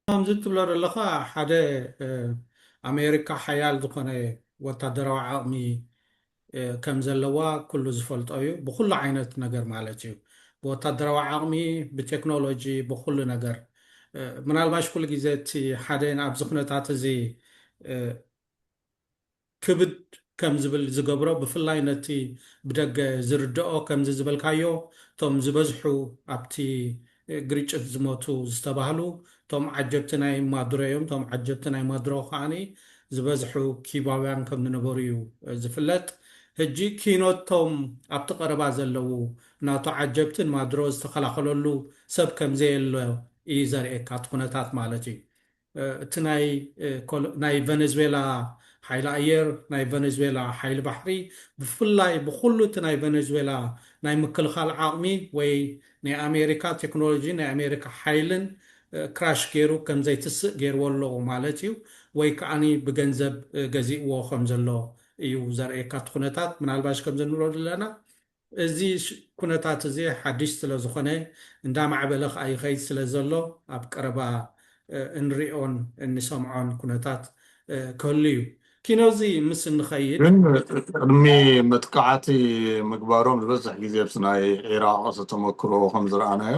ከምዚ እትብሎ ዘለኻ ሓደ ኣሜሪካ ሓያል ዝኾነ ወታደራዊ ዓቕሚ ከም ዘለዋ ኩሉ ዝፈልጦ እዩ ብኩሉ ዓይነት ነገር ማለት እዩ ብወታደራዊ ዓቅሚ ብቴክኖሎጂ ብኩሉ ነገር ምናልባሽ ኩሉ ግዜ እቲ ሓደ ኣብዚ ኩነታት እዚ ክብድ ከም ዝብል ዝገብሮ ብፍላይ ነቲ ብደገ ዝርደኦ ከምዚ ዝበልካዮ እቶም ዝበዝሑ ኣብቲ ግርጭት ዝመቱ ዝተባህሉ እቶም ዓጀብቲ ናይ ማዱሮ እዮም። እቶም ዓጀብቲ ናይ ማዱሮ ከኣ ዝበዝሑ ኪዩባውያን ከም ዝነበሩ እዩ ዝፍለጥ። ህጂ ኪኖት እቶም ኣብቲ ቀረባ ዘለዉ ናቱ ዓጀብቲ ንማዱሮ ዝተኸላኸለሉ ሰብ ከም ዘየሎ እዩ ዘርእየካ እቲ ኩነታት ማለት እዩ። እቲ ናይ ቨነዝዌላ ሓይሊ ኣየር፣ ናይ ቨነዝዌላ ሓይሊ ባሕሪ፣ ብፍላይ ብኹሉ እቲ ናይ ቨነዝዌላ ናይ ምክልኻል ዓቕሚ ወይ ናይ ኣሜሪካ ቴክኖሎጂን ናይ ኣሜሪካ ሓይልን ክራሽ ገይሩ ከም ዘይትስእ ገይርዎ ኣሎ ማለት እዩ። ወይ ከኣ ብገንዘብ ገዚእዎ ከም ዘሎ እዩ ዘርእየካ እቲ ኩነታት። ምናልባሽ ከምዚ ንብሎ ዘለና እዚ ኩነታት እዚ ሓድሽ ስለ ዝኾነ እንዳማዕበለ ከኣ ይኸይድ ስለ ዘሎ ኣብ ቀረባ እንሪኦን እንሰምዖን ኩነታት ክህሉ እዩ። ኪኖዚ ምስ እንኸይድ። ቅድሚ መጥቃዕቲ ምግባሮም ዝበዝሕ ግዜ ኣብቲ ናይ ዒራቕ ተሞክሮ ከም ዝረኣናዮ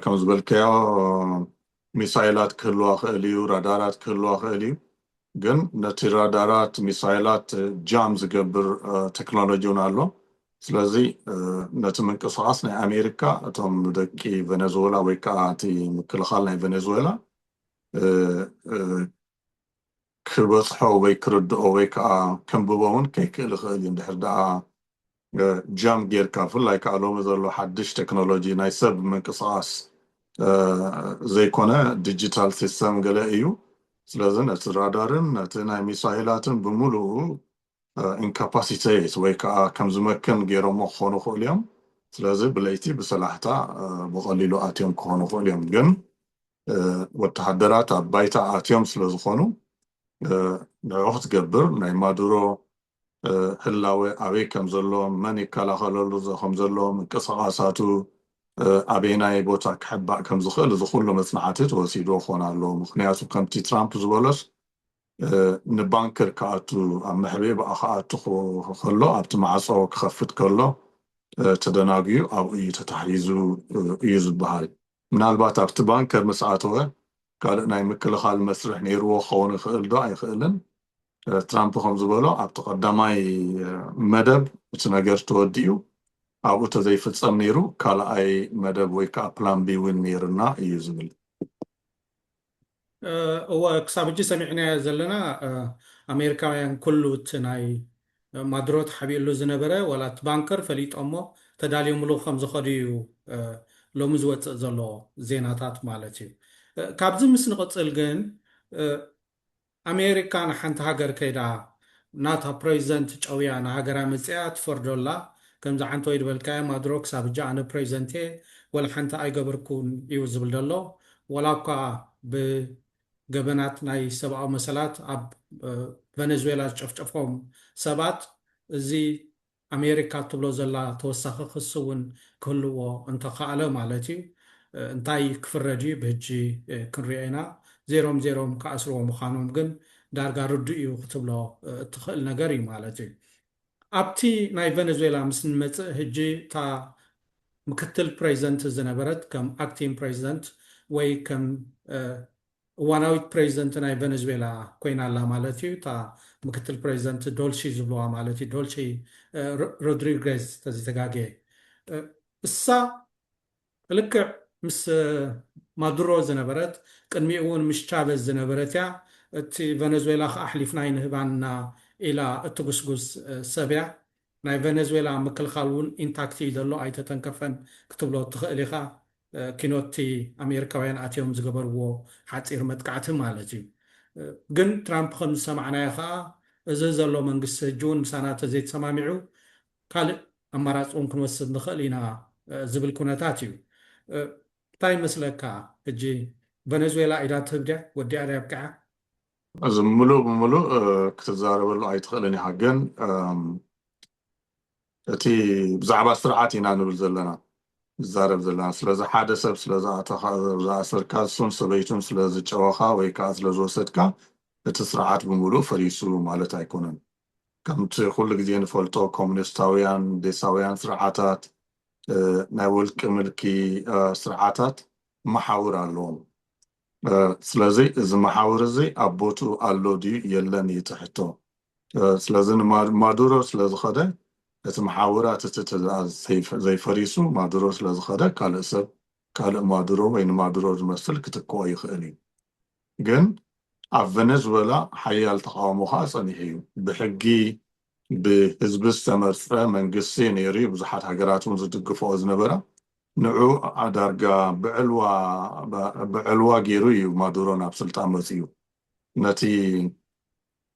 ከም ዝበልካዮ ሚሳይላት ክህልዋ ክእል እዩ ራዳራት ክህልዋ ክእል እዩ ግን ነቲ ራዳራት ሚሳይላት ጃም ዝገብር ቴክኖሎጂ እውን ኣሎ ስለዚ ነቲ ምንቅስቃስ ናይ ኣሜሪካ እቶም ደቂ ቨነዝወላ ወይ ከዓ እቲ ምክልኻል ናይ ቨነዝወላ ክበጽሖ ወይ ክርድኦ ወይ ከኣ ከንብቦ ውን ከይክእል ይኽእል እዩ እንድሕር ደኣ ጃም ጌርካ ብፍላይ ከኣ ሎሚ ዘሎ ሓድሽ ቴክኖሎጂ ናይ ሰብ ምንቅስቓስ ዘይኮነ ዲጂታል ሲስተም ገለ እዩ ስለዚ ነቲ ራዳርን ነቲ ናይ ሚሳይላትን ብምሉኡ ኢንካፓሲቴት ወይ ከኣ ከም ዝመክን ጌሮሞ ክኾኑ ይኽእሉ እዮም ስለዚ ብለይቲ ብሰላሕታ ብቐሊሉ ኣትዮም ክኾኑ ይኽእሉ እዮም ግን ወተሃደራት ኣብ ባይታ ኣትዮም ስለዝኾኑ ንዕኡ ክትገብር ናይ ማዱሮ ህላወ ኣበይ ከምዘሎ መን ይከላኸለሉ ከምዘሎ ምንቅስቓሳቱ ኣበየናይ ቦታ ክሕባእ ከምዝኽእል እዚ ኩሉ መፅናዕቲ ተወሲድዎ ክኾን ኣለዎ ምኽንያቱ ከምቲ ትራምፕ ዝበሎስ ንባንከር ክኣቱ ኣብ መሕብኢ ብኣ ክኣቱ ከሎ ኣብቲ ማዕጾ ክኸፍት ከሎ ተደናጉዩ ኣብኡ እዩ ተታሒዙ እዩ ዝበሃል። ምናልባት ኣብቲ ባንከር ምስ ኣተወ ካልእ ናይ ምክልኻል መስርሕ ነይርዎ ክኸውን ይኽእል ዶ ኣይኽእልን? ትራምፕ ከም ዝበሎ ኣብቲ ቀዳማይ መደብ እቲ ነገር ተወዲኡ ኣብኡ ተዘይፍጸም ነይሩ ካልኣይ መደብ ወይ ከኣ ፕላን ቢ ውን ነይሩና እዩ ዝብል። እወ ክሳብ ሕጂ ሰሚዕናዮ ዘለና ኣሜሪካውያን ኩሉ እቲ ናይ ማዱሮ ተሓቢእሉ ዝነበረ ዋላ እቲ ባንከር ፈሊጦሞ ተዳልዮምሉ ከም ዝኸዱ እዩ ሎሚ ዝወጽእ ዘሎ ዜናታት ማለት እዩ ካብዚ ምስ ንቕጽል ግን ኣሜሪካ ንሓንቲ ሃገር ከይዳ ናታ ፕረዚደንት ጨውያ ንሃገራ መጺኣ ትፈርዶ ኣላ ከምዚ ዓንተወይ ድበልካዮ ማዱሮ ክሳብ ህጂ ኣነ ፕረዚደንት እየ ወላሓንቲ ኣይገበርኩን እዩ ዝብል ደሎ ዋላ እኳ ብ ገበናት ናይ ሰብኣዊ መሰላት ኣብ ቨነዝዌላ ዝጨፍጨፎም ሰባት እዚ ኣሜሪካ እትብሎ ዘላ ተወሳኺ ክሲ እውን ክህልዎ እንተኸኣለ ማለት እዩ እንታይ ክፍረድ እዩ ብህጂ ክንሪኦ ኢና። ዜሮም ዜሮም ክኣስርዎ ምዃኖም ግን ዳርጋ ርዱእ እዩ ክትብሎ እትኽእል ነገር እዩ ማለት እዩ። ኣብቲ ናይ ቨነዝዌላ ምስ እንመፅእ ህጂ እታ ምክትል ፕረዚደንት ዝነበረት ከም ኣክቲንግ ፕረዚደንት ወይ ከም እዋናዊት ፕረዚደንት ናይ ቨነዝዌላ ኮይና ኣላ ማለት እዩ። እታ ምክትል ፕረዚደንት ዶልሺ ዝብልዋ ማለት እዩ፣ ዶልሺ ሮድሪገዝ ተዘይተጋግየ። እሳ ልክዕ ምስ ማዱሮ ዝነበረት፣ ቅድሚኡ እውን ምስ ቻቨዝ ዝነበረት እያ። እቲ ቨነዝዌላ ከኣ ኣሕሊፍና ኣይንህባንና ኢላ እትጉስጉስ ሰብ እያ። ናይ ቨነዝዌላ ምክልኻል እውን ኢንታክት እዩ ዘሎ፣ ኣይተተንከፈን ክትብሎ እትኽእል ኢኻ። ኪኖቲ ኣሜሪካውያን ኣትዮም ዝገበርዎ ሓጺር መጥቃዕቲ ማለት እዩ። ግን ትራምፕ ከም ዝሰማዕናዮ ከኣ እዚ ዘሎ መንግስቲ ህጂውን ምሳና ተዘይተሰማሚዑ ካልእ ኣማራጺ እውን ክንወስድ ንኽእል ኢና ዝብል ኩነታት እዩ። እንታይ ይመስለካ ህጂ ቨነዝዌላ ኢዳ ትህብ ድያ ወዲኣ ድያ ኣብቂዓ? እዚ ምሉእ ብምሉእ ክትዛረበሉ ኣይትኽእልን ኢኻ ግን እቲ ብዛዕባ ስርዓት ኢና ንብል ዘለና ንዛረብ ዘለና ስለዚ ሓደ ሰብ ስለ ዝኣተኻ ዝኣሰርካ ንሱን ሰበይቱን ስለ ዝጨወኻ ወይ ከኣ ስለ ዝወሰድካ እቲ ስርዓት ብምሉኡ ፈሪሱ ማለት ኣይኮነን ከምቲ ኩሉ ግዜ ንፈልጦ ኮሚኒስታውያን ዴሳውያን ስርዓታት ናይ ውልቂ ምልኪ ስርዓታት መሓውር ኣለዎም ስለዚ እዚ መሓውር እዚ ኣብ ቦትኡ ኣሎ ድዩ የለን እዩ እቲ ሕቶ። ስለዚ ንማዱሮ ስለ ዝኸደ እቲ መሓውራት እቲ ትእዛዝ ዘይፈሪሱ ማዱሮ ስለ ዝኸደ ካልእ ሰብ ካልእ ማዱሮ ወይ ንማዱሮ ዝመስል ክትክኦ ይኽእል እዩ። ግን ኣብ ቨነዝወላ ሓያል ተቓውሞ ከኣ ጸኒሑ እዩ። ብሕጊ ብህዝቢ ዝተመርጸ መንግስቲ ነይሩ እዩ፣ ብዙሓት ሃገራት እውን ዝድግፍኦ ዝነበራ። ንዑ ዳርጋ ብዕልዋ ገይሩ እዩ ማዱሮ ናብ ስልጣን መጺኡ። ነቲ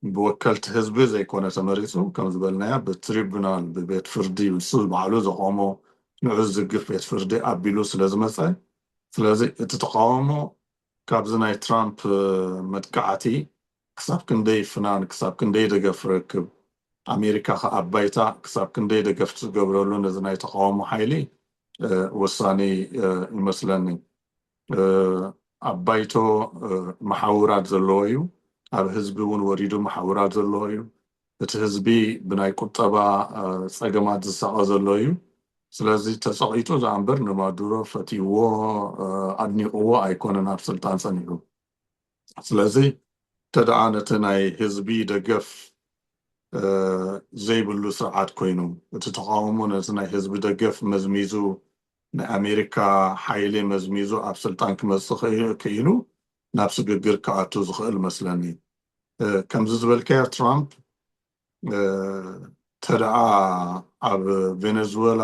ብወከልቲ ህዝቢ ዘይኮነ ተመሪጹ፣ ከም ዝበልናዮ ብትሪቡናል፣ ብቤት ፍርዲ፣ ንሱ ባዕሉ ዘቖሞ ንዑ ዝድግፍ ቤት ፍርዲ ኣቢሉ ስለ ዝመጸ፣ ስለዚ እቲ ተቓውሞ ካብዚ ናይ ትራምፕ መጥቃዕቲ ክሳብ ክንደይ ፍናን ክሳብ ክንደይ ደገፍ ክረክብ ኣሜሪካ ከኣ ባይታ ክሳብ ክንደይ ደገፍ ትገብረሉ ነዚ ናይ ተቃውሞ ሓይሊ ወሳኒ ይመስለኒ ኣብ ባይቶ መሓውራት ዘለዎ እዩ ኣብ ህዝቢ እውን ወሪዱ መሓውራት ዘለዎ እዩ እቲ ህዝቢ ብናይ ቁጠባ ጸገማት ዝሳቐ ዘሎ እዩ። ስለዚ ተጸቒጡ ዝኣምበር ንማዱሮ ፈትይዎ ኣድኒቕዎ ኣይኮነን ኣብ ስልጣን ጸኒሑ። ስለዚ እንተደኣ ነቲ ናይ ህዝቢ ደገፍ ዘይብሉ ስርዓት ኮይኑ፣ እቲ ተቓውሞ ነቲ ናይ ህዝቢ ደገፍ መዝሚዙ ናይ ኣሜሪካ ሓይሊ መዝሚዙ ኣብ ስልጣን ክመጽእ ክኢሉ ናብ ስግግር ክኣቱ ዝኽእል መስለኒ። ከምዚ ዝበልካዮ ትራምፕ እንተደኣ ኣብ ቬነዝወላ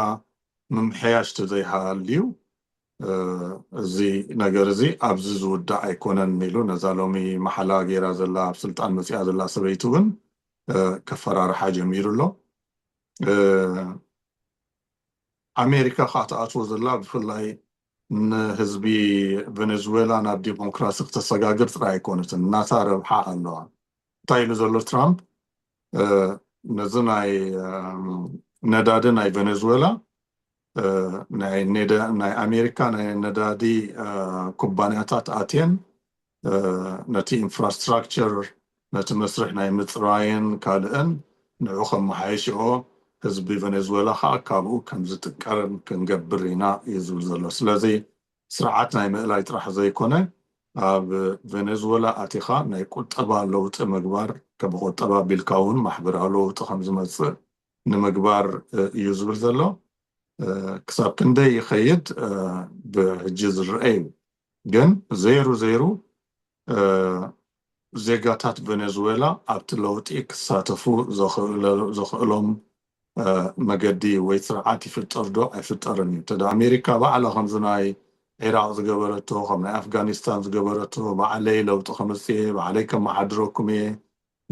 ምምሕያሽ ተዘይሃልዩ እዚ ነገር እዚ ኣብዚ ዝውዳእ ኣይኮነን ኢሉ ነዛ ሎሚ ማሕላ ገይራ ዘላ ኣብ ስልጣን መጺኣ ዘላ ሰበይቲ እውን ከፈራርሓ ጀሚሩ ኣሎ። ኣሜሪካ ከኣ ትኣትዎ ዘላ ብፍላይ ንህዝቢ ቨነዝዌላ ናብ ዲሞክራሲ ክተሰጋግር ጥራይ ኣይኮነትን ናታ ረብሓ ኣለዋ። እንታይ ኢሉ ዘሎ ትራምፕ ነዚ ናይ ነዳዲ ናይ ቨነዝዌላ ናይ ኣሜሪካ ናይ ነዳዲ ኩባንያታት ኣትየን ነቲ ኢንፍራስትራክቸር ነቲ መስርሕ ናይ ምጽራይን ካልእን ንዑ ከመሓይሽኦ፣ ህዝቢ ቨነዝወላ ከኣ ካብኡ ከም ዝጥቀር ክንገብር ኢና እዩ ዝብል ዘሎ። ስለዚ ስርዓት ናይ ምእላይ ጥራሕ ዘይኮነ ኣብ ቨነዝወላ ኣቲኻ ናይ ቁጠባ ለውጢ ምግባር ከም ቁጠባ ኣቢልካ እውን ማሕበራዊ ለውጢ ከም ዝመጽእ ንምግባር እዩ ዝብል ዘሎ። ክሳብ ክንደይ ይኸይድ ብሕጂ ዝረኣ እዩ። ግን ዘይሩ ዘይሩ ዜጋታት ቨነዝዌላ ኣብቲ ለውጢ ክሳተፉ ዘኽእሎም መገዲ ወይ ስርዓት ይፍጠር ዶ ኣይፍጠርን እዩ። እንተ ኣሜሪካ ባዕላ ከምዚ ናይ ዒራቕ ዝገበረቶ፣ ከም ናይ ኣፍጋኒስታን ዝገበረቶ፣ ባዕለይ ለውጢ ከምጽእ እየ፣ ባዕለይ ከመሓድረኩም እየ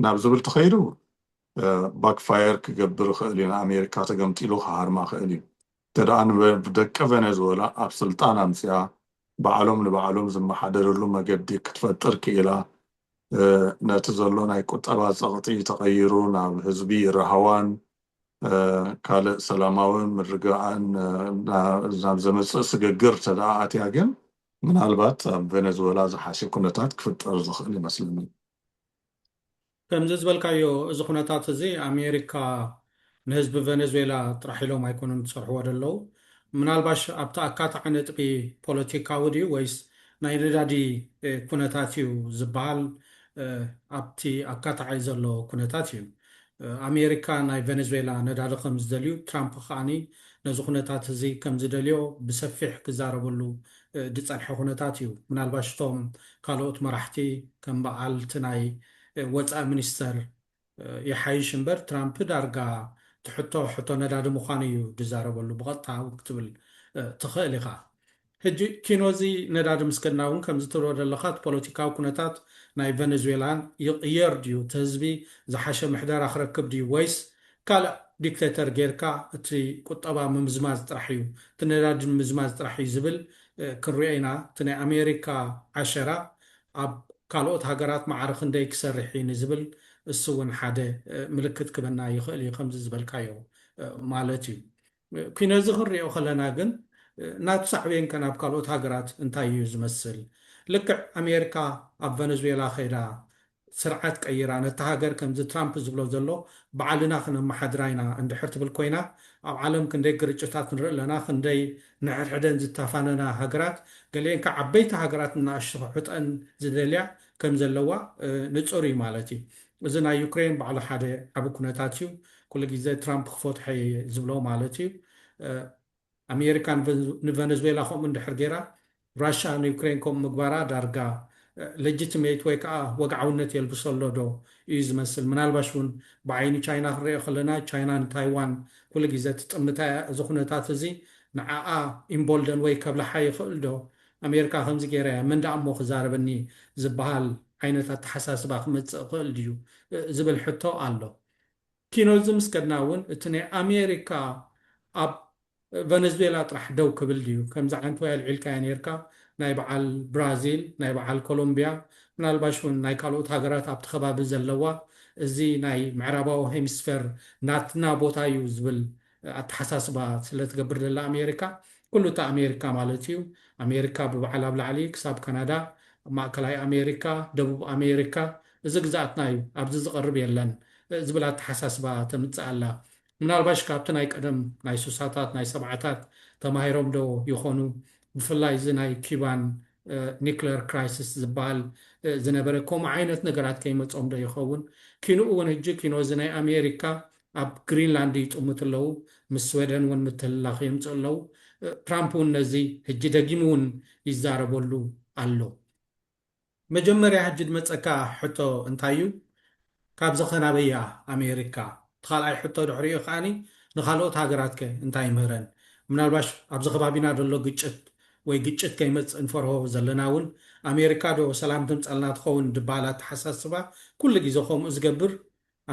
ናብ ዝብል ተኸይዱ ባክፋየር ክገብር ይኽእል እዩ፣ ንኣሜሪካ ተገምጢሉ ክሃርማ ይኽእል እዩ። እንተደኣ ንደቂ ቨነዝወላ ኣብ ስልጣን ኣምጺኣ ባዕሎም ንባዕሎም ዝመሓደርሉ መገዲ ክትፈጥር ክኢላ ነቲ ዘሎ ናይ ቁጠባ ጸቕጢ ተቐይሩ ናብ ህዝቢ ራህዋን ካልእ ሰላማዊ ምርግጋእን ናብ ዘምጽእ ስግግር እንተደኣ ኣትያ ግን ምናልባት ኣብ ቨነዝወላ ዝሓሸ ኩነታት ክፍጠር ዝኽእል ይመስለኒ። ከምዚ ዝበልካዮ እዚ ኩነታት እዚ ኣሜሪካ ንህዝቢ ቨነዝዌላ ጥራሕ ኢሎም ኣይኮኑን ዝጸርሕዎ ደለዉ ምናልባሽ ኣብቲ ኣካታዒ ነጥቢ ፖለቲካዊ ድዩ ወይስ ናይ ነዳዲ ኩነታት እዩ ዝበሃል ኣብቲ ኣካታዒ ዘሎ ኩነታት እዩ ኣሜሪካ ናይ ቨነዝዌላ ነዳዲ ከምዝደልዩ ትራምፕ ከኣ ነዚ ኩነታት እዚ ከምዝደልዮ ብሰፊሕ ክዛረበሉ ድጸንሐ ኩነታት እዩ። ምናልባሽ እቶም ካልኦት መራሕቲ ከም በዓል እቲ ናይ ወጻኢ ሚኒስተር ይሓይሽ እምበር ትራምፕ ዳርጋ እቲ ሕቶ ሕቶ ነዳዲ ምዃኑ እዩ ድዛረበሉ ብቐጥታ እውን ክትብል ትኽእል ኢኻ። ሕጂ ኪኖ እዚ ነዳዲ ምስ ከድና እውን ከምዚ ትብሎ ደለኻ እቲ ፖለቲካዊ ኩነታት ናይ ቨነዝዌላን ይቕየር ድዩ እቲ ህዝቢ ዝሓሸ ምሕደራ ክረክብ ድዩ ወይስ ካልእ ዲክተተር ጌርካ እቲ ቁጠባ ምምዝማዝ ጥራሕ እዩ እቲ ነዳዲ ምምዝማዝ ጥራሕ እዩ ዝብል ክንሪኦ ኢና እቲ ናይ ኣሜሪካ ዓሸራ ኣብ ካልኦት ሃገራት ማዕረ ክንደይ ክሰርሕ እዩ ንዝብል እሱ እውን ሓደ ምልክት ክበና ይኽእል እዩ ከምዚ ዝበልካዮ ማለት እዩ። ኩነዚ ክንሪኦ ከለና ግን ናቱ ሳዕቤን ከ ናብ ካልኦት ሃገራት እንታይ እዩ ዝመስል? ልክዕ ኣሜርካ ኣብ ቨነዝዌላ ከይዳ ስርዓት ቀይራ ነታ ሃገር ከምዚ ትራምፕ ዝብሎ ዘሎ ባዕልና ክነመሓድራ ኢና እንድሕር ትብል ኮይና ኣብ ዓለም ክንደይ ግርጭታት ንርኢ ኣለና ክንደይ ንሕድሕደን ዝታፋነና ሃገራት ገሊኤን ከ ዓበይቲ ሃገራት ንናኣሽቱ ክሕጠን ዝደልያ ከም ዘለዋ ንጹር እዩ ማለት እዩ። እዚ ናይ ዩክሬን ባዕሉ ሓደ ዓቢ ኩነታት እዩ ኩሉ ግዜ ትራምፕ ክፈትሖ እየ ዝብሎ ማለት እዩ ኣሜሪካ ንቨነዝዌላ ከምኡ እንድሕር ጌራ ራሻ ንዩክሬን ከምኡ ምግባራ ዳርጋ ለጅትሜት ወይ ከዓ ወግዓውነት የልብሶ ኣሎ ዶ እዩ ዝመስል ምናልባሽ እውን ብዓይኒ ቻይና ክንሪኦ ከለና ቻይና ንታይዋን ኩሉ ግዜ ትጥምታ እያ እዚ ኩነታት እዚ ንዓኣ ኢምቦልደን ወይ ከብልሓ ይኽእል ዶ ኣሜርካ ከምዚ ገይራ እያ መን ደኣ እሞ ክዛረበኒ ዝበሃል ዓይነት ኣተሓሳስባ ክመጽእ ይኽእል ድዩ ዝብል ሕቶ ኣሎ። ኪኖ እዚ ምስ ከድና እውን እቲ ናይ ኣሜሪካ ኣብ ቨነዝዌላ ጥራሕ ደው ክብል ድዩ? ከምዚ ዓይነት ወይ ኣልዒልካዮ ነይርካ ናይ በዓል ብራዚል ናይ በዓል ኮሎምብያ ምናልባሽ እውን ናይ ካልኦት ሃገራት ኣብቲ ከባቢ ዘለዋ እዚ ናይ ምዕራባዊ ሄሚስፌር ናትና ቦታ እዩ ዝብል ኣተሓሳስባ ስለ ትገብር ዘላ ኣሜሪካ ኩሉ እታ ኣሜሪካ ማለት እዩ ኣሜሪካ ብበዓል ኣብ ላዕሊ ክሳብ ካናዳ ኣብ ማእከላይ ኣሜሪካ ደቡብ ኣሜሪካ እዚ ግዝኣትና እዩ ኣብዚ ዝቐርብ የለን ዝብል ኣተሓሳስባ ተምጽእ ኣላ ምናልባሽ ካብቲ ናይ ቀደም ናይ ሱሳታት ናይ ሰብዓታት ተማሂሮም ዶ ይኾኑ ብፍላይ እዚ ናይ ኪባን ኒክለር ክራይስስ ዝበሃል ዝነበረ ከምኡ ዓይነት ነገራት ከይመጾም ዶ ይኸውን ኪንኡ እውን ህጂ ኪኖ እዚ ናይ ኣሜሪካ ኣብ ግሪንላንድ ይጥምቱ ኣለዉ፣ ምስ ስወደን እውን ምትህልላኽ የምጽኡ ኣለዉ። ትራምፕ እውን ነዚ ሕጂ ደጊሙ እውን ይዛረበሉ ኣሎ። መጀመርያ ሕጂ ድመጸካ ሕቶ እንታይ እዩ፣ ካብዚ ከ ናበይ እያ ኣሜሪካ? እቲ ካልኣይ ሕቶ ድሕሪኡ ከኣ ንካልኦት ሃገራት ከ እንታይ ይምህረን? ምናልባሽ ኣብዚ ከባቢና ዘሎ ግጭት ወይ ግጭት ከይመጽእ ንፈርሆ ዘለና እውን ኣሜሪካ ዶ ሰላም ተምጸልና ትኸውን ድበሃል ኣተሓሳስባ ኩሉ ግዜ ከምኡ ዝገብር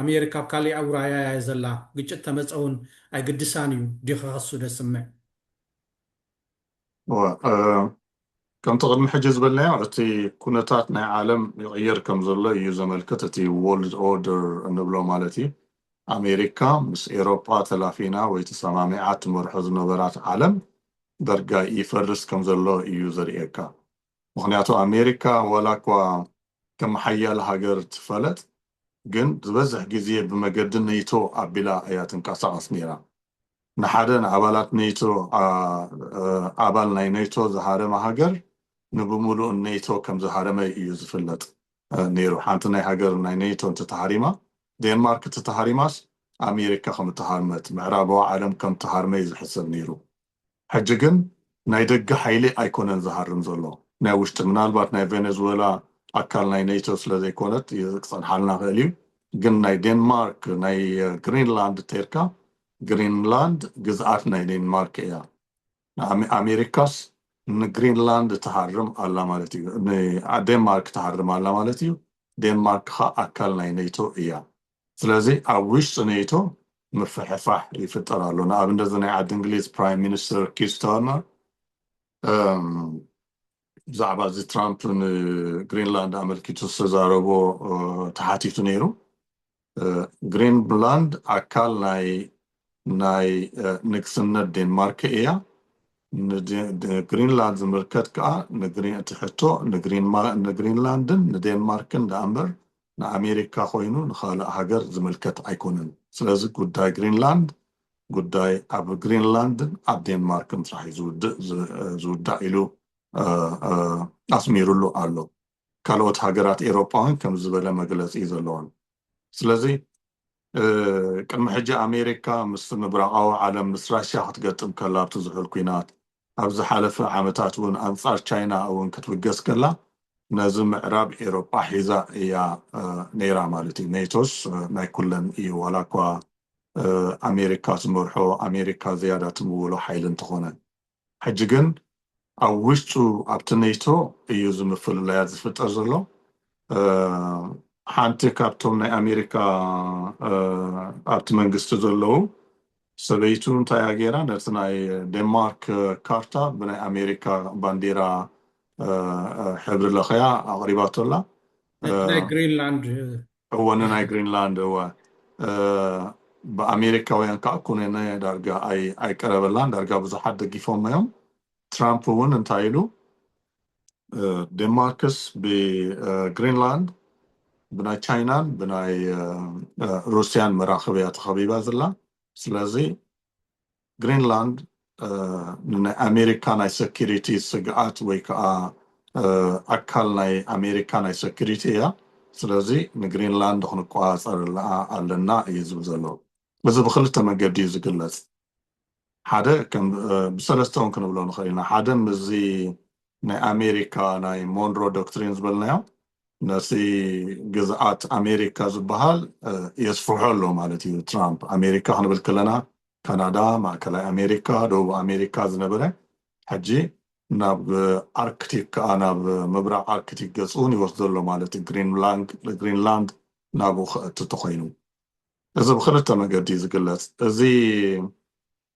ኣሜሪካ ኣብ ካሊእ ኣውራያ እያ ዘላ ግጭት ተመፀ እውን ኣይግድሳን እዩ ዲኺ ከሱ ደስምዕ። እወ ከምቲ ቅድሚ ሕጂ ዝበልናዮ እቲ ኩነታት ናይ ዓለም ይቕይር ከምዘሎ እዩ ዘመልክት እቲ ዎርልድ ኦርደር እንብሎ ማለት እዩ ኣሜሪካ ምስ ኤሮጳ ተላፊና ወይ ተሰማሚዓ ትመርሖ ዝነበራት ዓለም ዳርጋ ይፈርስ ከምዘሎ እዩ ዘርእየካ ምኽንያቱ ኣሜሪካ ዋላኳ ከም ሓያል ሃገር ትፈለጥ ግን ዝበዝሕ ግዜ ብመገዲ ነይቶ ኣቢላ እያ ትንቀሳቐስ ነይራ። ንሓደ ንኣባላት ነይቶ ኣባል ናይ ነይቶ ዝሃረመ ሃገር ንብምሉኡ ነይቶ ከም ዝሃረመ እዩ ዝፍለጥ ነይሩ። ሓንቲ ናይ ሃገር ናይ ነይቶ እንተተሃሪማ ዴንማርክ እትተሃሪማስ ኣሜሪካ ከም እተሃርመት ምዕራባዊ ዓለም ከም እተሃርመ እዩ ዝሕሰብ ነይሩ። ሕጂ ግን ናይ ደገ ሓይሊ ኣይኮነን ዝሃርም ዘሎ ናይ ውሽጢ ምናልባት ናይ ቬነዝወላ ኣካል ናይ ኔቶ ስለ ዘይኮነት ክጸንሓልና ይክእል እዩ ግን ናይ ዴንማርክ ናይ ግሪንላንድ እንተይልካ ግሪንላንድ ግዝኣት ናይ ዴንማርክ እያ ኣሜሪካስ ንግሪንላንድ ትሃርም ኣላ ማለት እዩ ንዴንማርክ ትሃርም ኣላ ማለት እዩ ዴንማርክ ከኣ ኣካል ናይ ኔቶ እያ ስለዚ ኣብ ውሽጢ ኔቶ ምፍሕፋሕ ይፍጠር ኣሎ። ንኣብነት እዚ ናይ ዓዲ እንግሊዝ ፕራይም ሚኒስተር ኪር ስታርመር ብዛዕባ እዚ ትራምፕ ንግሪንላንድ ኣመልኪቱ ዝተዛረቦ ተሓቲቱ ነይሩ። ግሪንላንድ ኣካል ናይ ናይ ንግስነት ዴንማርክ እያ ንግሪንላንድ ዝምልከት ከዓ እቲ ሕቶ ንግሪንላንድን ንዴንማርክን ዳእምበር ንኣሜሪካ ኮይኑ ንኻልእ ሃገር ዝምልከት ኣይኮነን። ስለዚ ጉዳይ ግሪንላንድ ጉዳይ ኣብ ግሪንላንድን ኣብ ዴንማርክን ጥራሕ እዩ ዝውዳእ ኢሉ ኣስሚሩሉ ኣሎ። ካልኦት ሃገራት ኤሮጳ እውን ከምዚ ዝበለ መግለጺ እዩ ዘለወን። ስለዚ ቅድሚ ሕጂ ኣሜሪካ ምስ ምብራቓዊ ዓለም ምስ ራሽያ ክትገጥም ከላ ኣብቲ ዝሑል ኲናት ኣብ ዝሓለፈ ዓመታት እውን ኣንጻር ቻይና እውን ክትብገስ ከላ ነዚ ምዕራብ ኤሮጳ ሒዛ እያ ነይራ ማለት እዩ። ኔቶስ ናይ ኩለን እዩ ዋላ እኳ ኣሜሪካ ትመርሖ ኣሜሪካ ዝያዳ ትምውሎ ሓይሊ እንተኾነ ሕጂ ግን ኣብ ውሽጡ ኣብቲ ኔቶ እዩ እዚ ምፍልላያት ዝፍጠር ዘሎ ሓንቲ ካብቶም ናይ ኣሜሪካ ኣብቲ መንግስቲ ዘለዉ ሰበይቱ እንታይ እያ ገይራ ነቲ ናይ ዴንማርክ ካርታ ብናይ ኣሜሪካ ባንዴራ ሕብሪ ለኽያ ኣቕሪባቶ ኣላ። ነቲ ናይ ግሪንላንድ እወ ንናይ ግሪንላንድ እወ ብኣሜሪካውያን ከዓ ኩነነ ዳርጋ ኣይቀረበላን ዳርጋ ብዙሓት ደጊፎም እዮም ትራምፕ እውን እንታይ ኢሉ ዴንማርክስ ብግሪንላንድ ብናይ ቻይናን ብናይ ሩስያን መራኽብ እያ ተኸቢባ ዘላ ስለዚ ግሪንላንድ ንናይ ኣሜሪካ ናይ ሰኪሪቲ ስግኣት ወይ ከዓ ኣካል ናይ ኣሜሪካ ናይ ሰኪሪቲ እያ ስለዚ ንግሪንላንድ ክንቆፃፀረላ ኣለና እዩ ዝብል ዘሎ እዚ ብክልተ መገዲ እዩ ዝግለፅ ሓደ ከም ብሰለስተ ውን ክንብሎ ንኽእል ኢና ሓደ ምስዚ ናይ ኣሜሪካ ናይ ሞንሮ ዶክትሪን ዝበልናዮ ነቲ ግዝኣት ኣሜሪካ ዝበሃል የስፍሖ ኣሎ ማለት እዩ ትራምፕ ኣሜሪካ ክንብል ከለና ካናዳ ማእከላይ ኣሜሪካ ደቡብ ኣሜሪካ ዝነበረ ሕጂ ናብ ኣርክቲክ ከዓ ናብ ምብራቅ ኣርክቲክ ገጽ ውን ይወስዶ ኣሎ ማለት ግሪንላንድ ናብኡ ከእቲ ተኾይኑ እዚ ብኽልተ መገዲ እዩ ዝግለጽ። እዚ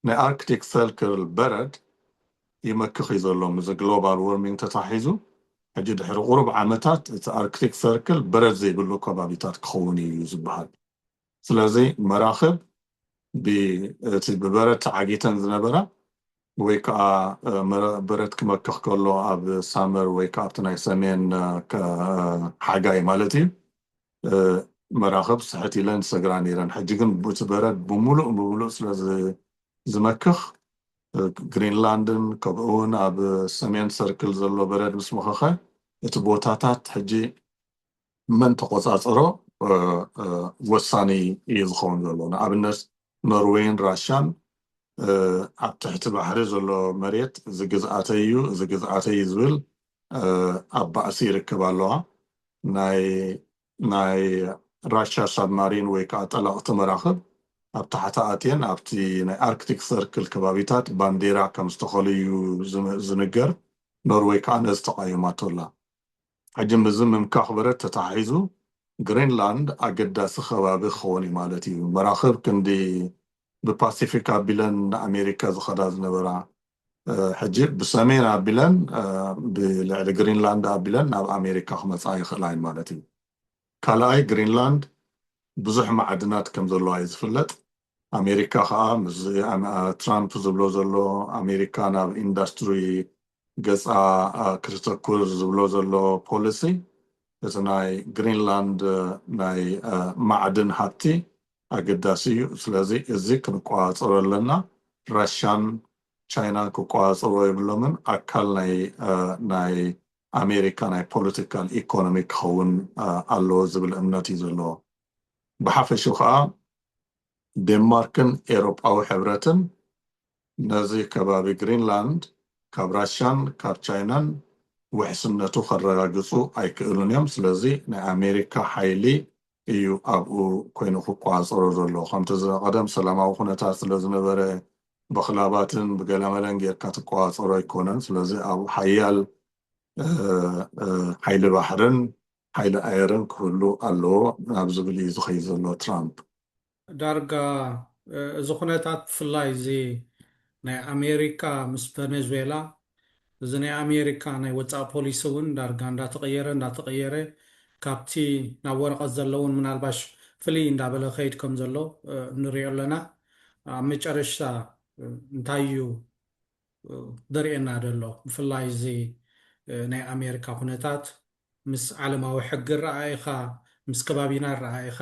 ናይ ኣርክቲክ ሰርክል በረድ ይመክኽ እዩ ዘሎ ምስዚ ግሎባል ዎርሚንግ ተተሓሒዙ። ሕጂ ድሕሪ ቁሩብ ዓመታት እቲ ኣርክቲክ ሰርክል በረድ ዘይብሉ ከባቢታት ክኸውን እዩ እዩ ዝበሃል። ስለዚ መራኽብ ብ እቲ ብበረድ ተዓጊተን ዝነበራ ወይ ከኣ በረድ ክመክኽ ከሎ ኣብ ሳመር ወይ ከኣ ኣብቲ ናይ ሰሜን ሓጋይ ማለት እዩ መራኽብ ስሕት ኢለን ዝሰግራ ነይረን። ሕጂ ግን እቲ በረድ ብምሉእ ብምሉእ ስለ ዝመክኽ፣ ግሪንላንድን ከምኡውን ኣብ ሰሜን ሰርክል ዘሎ በረድ ምስ መኸኸ፣ እቲ ቦታታት ሕጂ መን ተቖጻጸሮ ወሳኒ ኢዩ ዝኸውን ዘሎ። ንኣብነት ኖርወይን ራሻን ኣብ ትሕቲ ባሕሪ ዘሎ መሬት እዚ ግዝኣተይ ኢዩ እዚ ግዝኣተይ ኢዩ ዝብል ኣብ ባእሲ ይርከባ ኣለዋ። ናይ ናይ ራሻ ሳብማሪን ወይ ከኣ ጠለቕቲ መራኽብ ኣብ ታሕታ ኣትየን ኣብቲ ናይ ኣርክቲክ ሰርክል ከባቢታት ባንዴራ ከም ዝተኸሉ እዩ ዝንገር፣ ኖርወይ ከኣ ነዚ ተቓዊማቶ ኣላ። ሕጂ ምስዚ ምምካኽ በረድ ተተሓሒዙ ግሪንላንድ ኣገዳሲ ከባቢ ክኸውን እዩ ማለት እዩ። መራኽብ ክንዲ ብፓሲፊክ ኣቢለን ንኣሜሪካ ዝኸዳ ዝነበራ ሕጂ ብሰሜን ኣቢለን ብልዕሊ ግሪንላንድ ኣቢለን ናብ ኣሜሪካ ክመጻ ይኽእላ እየን ማለት እዩ። ካልኣይ ግሪንላንድ ብዙሕ ማዕድናት ከም ዘለዋ እዩ ዝፍለጥ። ኣሜሪካ ከኣ ምስዚ ትራምፕ ዝብሎ ዘሎ ኣሜሪካ ናብ ኢንዳስትሪ ገጻ ክተተኩር ዝብሎ ዘሎ ፖሊሲ እቲ ናይ ግሪንላንድ ናይ ማዕድን ሃብቲ ኣገዳሲ እዩ ስለዚ እዚ ክንቆፃፀሮ ኣለና ራሻን ቻይናን ክቆፃፀርዎ የብሎምን ኣካል ናይ ናይ ኣሜሪካ ናይ ፖለቲካል ኢኮኖሚ ክኸውን ኣለዎ ዝብል እምነት እዩ ዘለዎ ብሓፈሽኡ ከኣ ዴንማርክን ኤሮጳዊ ሕብረትን ነዚ ከባቢ ግሪንላንድ ካብ ራሻን ካብ ቻይናን ውሕስነቱ ከረጋግጹ ኣይክእሉን እዮም ስለዚ ናይ ኣሜሪካ ሓይሊ እዩ ኣብኡ ኮይኑ ክቆጻጸሮ ዘሎ ከምቲ ዝቐደም ሰላማዊ ኩነታት ስለ ዝነበረ በክላባትን ብገለመለን ጌርካ ትቆጻጸሮ ኣይኮነን ስለዚ ኣብኡ ሓያል ሓይሊ ባሕርን ሓይሊ ኣየርን ክህሉ ኣለዎ ናብ ዝብል እዩ ዝኸይድ ዘሎ ትራምፕ። ዳርጋ እዚ ኩነታት ብፍላይ እዚ ናይ ኣሜሪካ ምስ ቨነዝዌላ እዚ ናይ ኣሜሪካ ናይ ወጻኢ ፖሊሲ እውን ዳርጋ እንዳተቐየረ እንዳተቐየረ ካብቲ ናብ ወረቐት ዘሎ እውን ምናልባሽ ፍልይ እንዳበለ ክኸይድ ከም ዘሎ ንሪኦ ኣለና። ኣብ መጨረሽታ እንታይ እዩ ዘርእየና ዘሎ ብፍላይ እዚ ናይ ኣሜሪካ ኩነታት? ምስ ዓለማዊ ሕጊ ኣረኣኢኻ ምስ ከባቢና ኣረኣኢኻ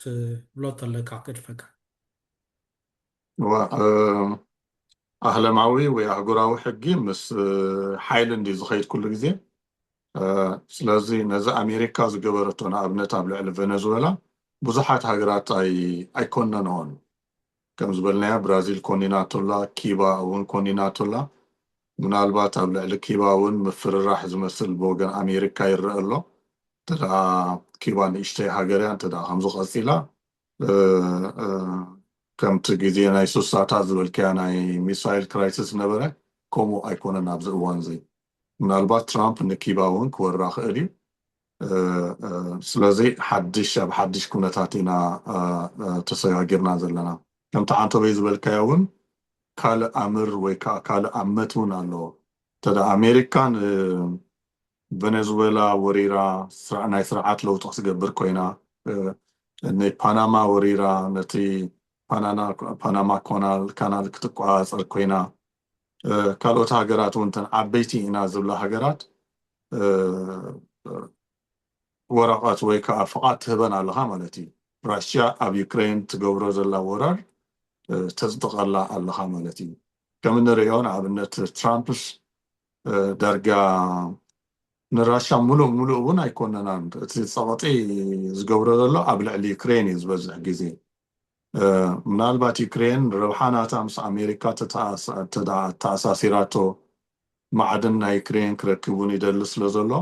ትብሎ ተለካ ክግድፈካ። እዋእ ኣህለማዊ ወይ ኣህጉራዊ ሕጊ ምስ ሓይሊ እንድዩ ዝኸይድ ኩሉ ግዜ። ስለዚ ነዚ ኣሜሪካ ዝገበረቶ ንኣብነት ኣብ ልዕሊ ቨነዝወላ ብዙሓት ሃገራት ኣይኮነንኦን። ከም ዝበልናዮ ብራዚል ኮኒናቶላ፣ ኪባ እውን ኮኒናቶላ። ምናልባት ኣብ ልዕሊ ኪባ እውን ምፍርራሕ ዝመስል ብወገን ኣሜሪካ ይረኣ ኣሎ። እንተድኣ ኪባ ንእሽተይ ሃገር እያ፣ እንተድኣ ከምዚ ቀጺላ ከምቲ ግዜ ናይ ስሳታት ዝበልክያ ናይ ሚሳይል ክራይስስ ዝነበረ ከምኡ ኣይኮነን ኣብዚ እዋንዚ። ምናልባት ትራምፕ ንኪባ እውን ክወራ ክእል እዩ። ስለዚ ሓድሽ ኣብ ሓድሽ ኩነታት ኢና ተሰጋጊርና ዘለና። ከምቲ ዓንተቦይ ዝበልካዮ እውን ካልእ ኣምር ወይ ከዓ ካልእ ኣመት እውን ኣለዎ። እንተ ኣሜሪካ ንቨነዝወላ ወሪራ ናይ ስርዓት ለውጢ ክትገብር ኮይና፣ ንፓናማ ወሪራ ነቲ ፓናማ ካናል ክትቆፃፀር ኮይና፣ ካልኦት ሃገራት እውን እተን ዓበይቲ ኢና ዝብላ ሃገራት ወረቐት ወይ ከዓ ፍቓድ ትህበን ኣለኻ ማለት እዩ ራሽያ ኣብ ዩክሬን ትገብሮ ዘላ ወራር ተፅድቐላ ኣለኻ ማለት እዩ ከም እንሪኦ ንኣብነት ትራምፕስ ዳርጋ ንራሻ ሙሉእ ሙሉእ እውን ኣይኮነናን እቲ ፀቕጢ ዝገብሮ ዘሎ ኣብ ልዕሊ ዩክሬን እዩ ዝበዝሕ ግዜ ምናልባት ዩክሬን ረብሓ ናታ ምስ ኣሜሪካ ተተኣ ኣተኣሳሲራቶ ማዕድን ናይ ዩክሬን ክረክብ እውን ይደሊ ስለ ዘሎ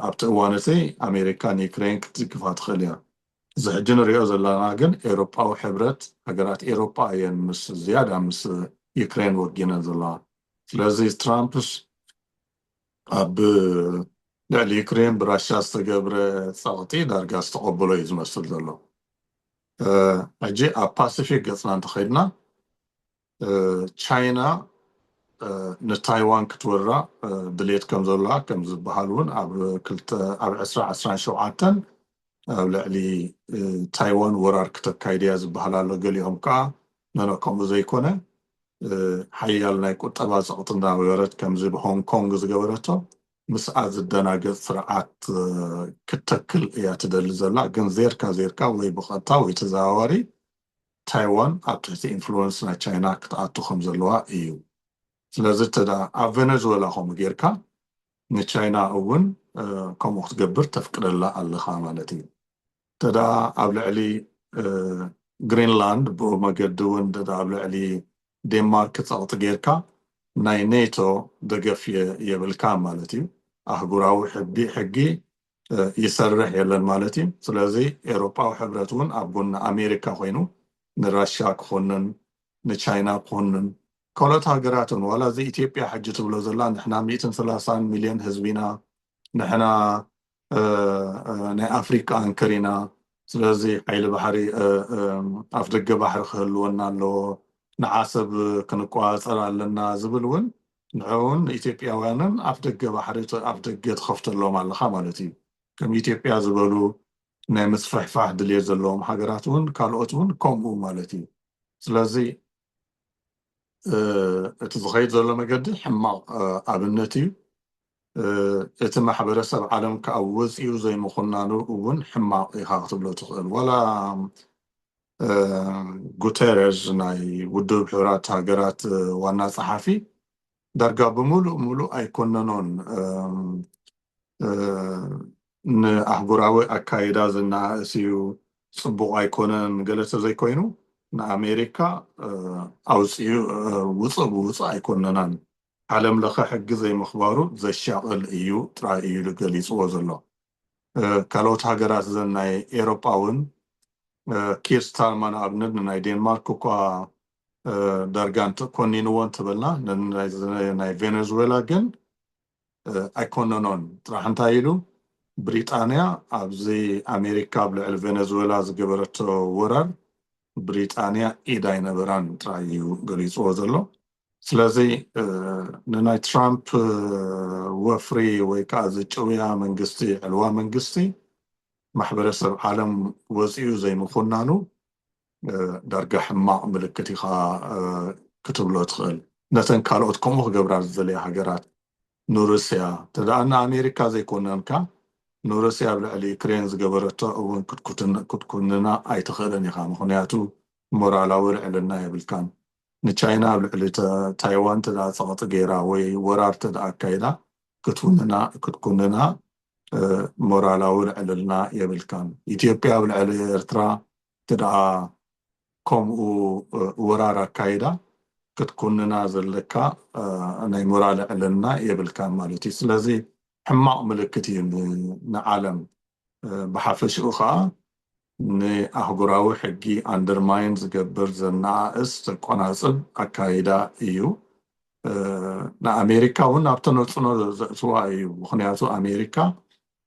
ኣብቲ እዋን እቲ ኣሜሪካ ንዩክሬን ክትድግፋ ትኽእል እያ። እዚ ሕጂ ንሪኦ ዘለና ግን ኤውሮጳዊ ሕብረት ሃገራት ኤውሮጳ እየን ምስ ዝያዳ ምስ ዩክሬን ወጊነን ዘለዋ። ስለዚ ትራምፕስ ኣብ ልዕሊ ዩክሬን ብራሻ ዝተገብረ ጸቕጢ ዳርጋ ዝተቐበሎ እዩ ዝመስል ዘሎ። ሕጂ ኣብ ፓሲፊክ ገጽና እንተኸድና ቻይና ንታይዋን ክትወራ ድሌት ከም ዘሎዋ ከም ዝበሃል እውን ኣብ ክልተ ኣብ ዕስራ ዕስራን ሸውዓተን ኣብ ልዕሊ ታይዋን ወራር ክተካይድ እያ ዝበሃል ኣሎ። ገሊኦም ከኣ ኖኖ ከምኡ ዘይኮነ ሓያል ናይ ቁጠባ ጸቕጢ እናወረድ ከምዚ ብሆንግ ኮንግ ዝገበረቶ ምስኣ ዝደናገጽ ስርዓት ክትተክል እያ ትደሊ ዘላ ግን ዜርካ ዜርካ ወይ ብቐጥታ ወይ ተዘዋዋሪ ታይዋን ኣብ ትሕቲ ኢንፍሉወንስ ናይ ቻይና ክትኣቱ ከም ዘለዋ እዩ ስለዚ እንተ ኣብ ቨነዝወላ ከምኡ ጌርካ ንቻይና እውን ከምኡ ክትገብር ተፍቅደላ ኣለኻ ማለት እዩ እንተደኣ ኣብ ልዕሊ ግሪንላንድ ብኡ መገዲ እውን እንተደኣ ኣብ ልዕሊ ዴንማርክ ጸቕጢ ጌርካ ናይ ኔቶ ደገፍ የብልካን ማለት እዩ። ኣህጉራዊ ሕጊ ይሰርሕ የለን ማለት እዩ። ስለዚ ኤውሮጳዊ ሕብረት እውን ኣብ ጎኒ ኣሜሪካ ኮይኑ ንራሻ ክኹንን ንቻይና ክኹንን ካልኦት ሃገራትን ዋላ እዚ ኢትዮጵያ ሕጂ ትብሎ ዘላ ንሕና ሚእትን ሰላሳን ሚልዮን ህዝቢ ኢና ንሕና ናይ ኣፍሪቃ ኣንከር ኢና ስለዚ ሓይሊ ባሕሪ ኣፍ ደገ ባሕሪ ክህልወና ኣለዎ ንዓሰብ ክንቆጻጸር ኣለና ዝብል ውን ንዕኡን ንኢትዮጵያውያንን ኣፍ ደገ ባሕሪ ኣፍ ደገ ትኸፍተሎም ኣለኻ ማለት እዩ ከም ኢትዮጵያ ዝበሉ ናይ ምስፍሕፋሕ ድልየት ዘለዎም ሃገራት ውን ካልኦት ውን ከምኡ ማለት እዩ ስለዚ እቲ ዝኸይድ ዘሎ መገዲ ሕማቕ ኣብነት እዩ እቲ ማሕበረሰብ ዓለም ክኣ ወጺኡ ዘይምኹናኑ እውን ሕማቕ ኢኻ ክትብሎ ትኽእል። ዋላ ጉተረዝ ናይ ውድብ ሕቡራት ሃገራት ዋና ጸሓፊ ዳርጋ ብምሉእ ምሉእ ኣይኮነኖን ንኣህጉራዊ ኣካይዳ ዝነኣእስ እዩ፣ ጽቡቕ ኣይኮነን ገለ ተዘይኮይኑ ንኣሜሪካ ኣውጺኡ ውጽእ ብውጽእ ኣይኮነናን ዓለም ለኸ ሕጊ ዘይምኽባሩ ዘሻቕል እዩ ጥራይ እዩ ኢሉ ገሊጽዎ ዘሎ። ካልኦት ሃገራት እዘን ናይ ኤሮጳ እውን ኪር ስታርማ ንኣብነት ንናይ ዴንማርክ እኳ ዳርጋ ኮኒንዎ እንተበልና ናይ ቬነዙዌላ ግን ኣይኮነኖን ጥራሕ እንታይ ኢሉ ብሪጣንያ ኣብዚ ኣሜሪካ ኣብ ልዕሊ ቬነዙዌላ ዝገበረቶ ወራር ብሪጣንያ ኢድ ኣይነበራን ጥራይ እዩ ገሊጽዎ ዘሎ። ስለዚ ንናይ ትራምፕ ወፍሪ ወይ ከዓ እዚ ጭውያ መንግስቲ ዕልዋ መንግስቲ ማሕበረሰብ ዓለም ወፂኡ ዘይምኹናኑ ዳርጋ ሕማቕ ምልክት ኢኻ ክትብሎ ትኽእል። ነተን ካልኦት ከምኡ ክገብራ ዝደልያ ሃገራት ንሩስያ እንተደኣ ንኣሜሪካ ዘይኮነንካ ንሩስያ ኣብ ልዕሊ ዩክሬን ዝገበረቶ እውን ክትኩንና ኣይትኽእልን ኢኻ። ምኽንያቱ ሞራላዊ ልዕልና የብልካን። ንቻይና ኣብ ልዕሊ ታይዋን እንተድኣ ጸቕጢ ገይራ ወይ ወራር እንተድኣ ኣካይዳ ክትኩንና ሞራላዊ ልዕልና የብልካን። ኢትዮጵያ ኣብ ልዕሊ ኤርትራ እንተድኣ ከምኡ ወራር ኣካይዳ ክትኩንና ዘለካ ናይ ሞራል ልዕልና የብልካን ማለት እዩ። ስለዚ ሕማቕ ምልክት እዩ ንዓለም። ብሓፈሽኡ ከኣ ንኣህጉራዊ ሕጊ ኣንደርማይን ዝገብር ዘነኣእስ ዘቆናጽብ ኣካይዳ እዩ። ንኣሜሪካ ውን ኣብ ተነጽሎ ዘእትዋ እዩ። ምኽንያቱ ኣሜሪካ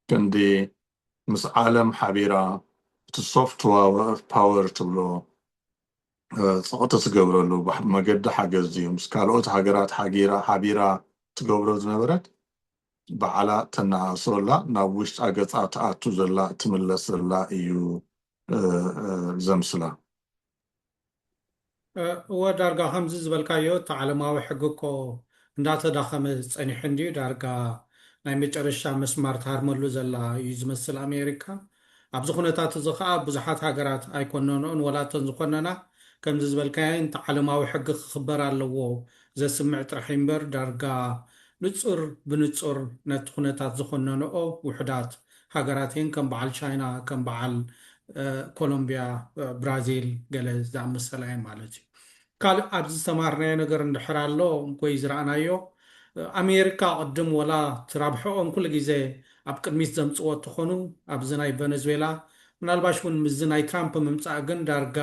ክንዲ ምስ ዓለም ሓቢራ እቲ ሶፍት ፓወር ትብሎ ጸቕጢ ትገብረሉ መገዲ ሓገዝ ድዩ ምስ ካልኦት ሃገራት ሓቢራ ትገብሮ ዝነበረት ባዕላ ተናኣእሶ ኣላ ናብ ውሽጣ ገጻ ትኣቱ ዘላ ትምለስ ዘላ እዩ ዘምስላ። እወ ዳርጋ ከምዚ ዝበልካዮ እቲ ዓለማዊ ሕጊ እኮ እንዳተዳኸመ ጸኒሑ እንድዩ ዳርጋ ናይ መጨረሻ መስማር ትሃርመሉ ዘላ እዩ ዝመስል ኣሜሪካ ኣብዚ ኩነታት እዚ ከኣ ብዙሓት ሃገራት ኣይኮነንኦን ወላ እተን ዝኾነና ከምዚ ዝበልካየን እቲ ዓለማዊ ሕጊ ክኽበር ኣለዎ ዘስምዕ ጥራሕ እዩ እምበር ዳርጋ ንጹር ብንጹር ነቲ ኩነታት ዝኾነንኦ ውሑዳት ሃገራት እየን ከም በዓል ቻይና ከም በዓል ኮሎምብያ ብራዚል ገለ ዝኣመሰላ እየን ማለት እዩ። ካልእ ኣብዚ ዝተማሃርናዮ ነገር እንድሕር ኣሎ ወይ ዝረኣናዮ ኣሜርካ ቅድም ወላ እቲ ራብሕኦም ኩሉ ግዜ ኣብ ቅድሚት ዘምጽዎ እተኾኑ ኣብዚ ናይ ቨነዝዌላ ምናልባሽ ውን ምስዚ ናይ ትራምፕ ምምጻእ ግን ዳርጋ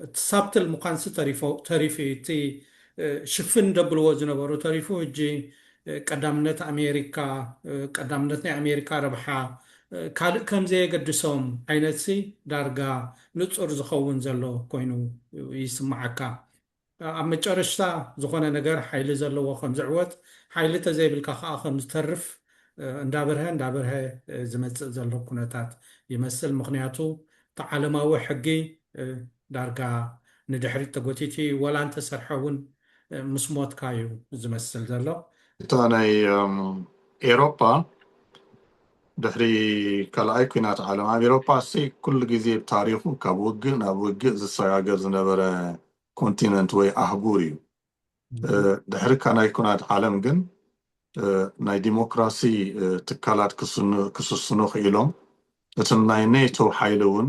እቲ ሳብትል ምዃንሲ ተሪፎ ተሪፉ እዩ እቲ ሽፍን ደብልዎ ዝነበሩ ተሪፉ ህጂ ቀዳምነት ኣሜርካ ቀዳምነት ናይ ኣሜርካ ረብሓ ካልእ ከምዘየገድሶም ዓይነትሲ ዳርጋ ንጹር ዝኸውን ዘሎ ኮይኑ ይስምዓካ። ኣብ መጨረሽታ ዝኾነ ነገር ሓይሊ ዘለዎ ከም ዝዕወት ሓይሊ ተዘይብልካ ከኣ ከም ዝተርፍ እንዳበርሀ እንዳበርሀ ዝመጽእ ዘሎ ኩነታት ይመስል። ምኽንያቱ እቲ ዓለማዊ ሕጊ ዳርጋ ንድሕሪት ተጎቲቱ ኢዩ። ወላ እንተሰርሐ እውን ምስ ሞትካ ኢዩ ዝመስል ዘሎ። እታ ናይ ኤሮፓ ድሕሪ ካልኣይ ኲናት ዓለም ኣብ ኤውሮፓ ኩሉ ግዜ ብታሪኹ ካብ ውግእ ናብ ውግእ ዝሰጋገር ዝነበረ ኮንቲነንት ወይ ኣህጉር እዩ። ድሕሪ ካናይ ኩናት ዓለም ግን ናይ ዲሞክራሲ ትካላት ክስስኑ ክኢሎም፣ እትም ናይ ኔቶ ሓይሊ እውን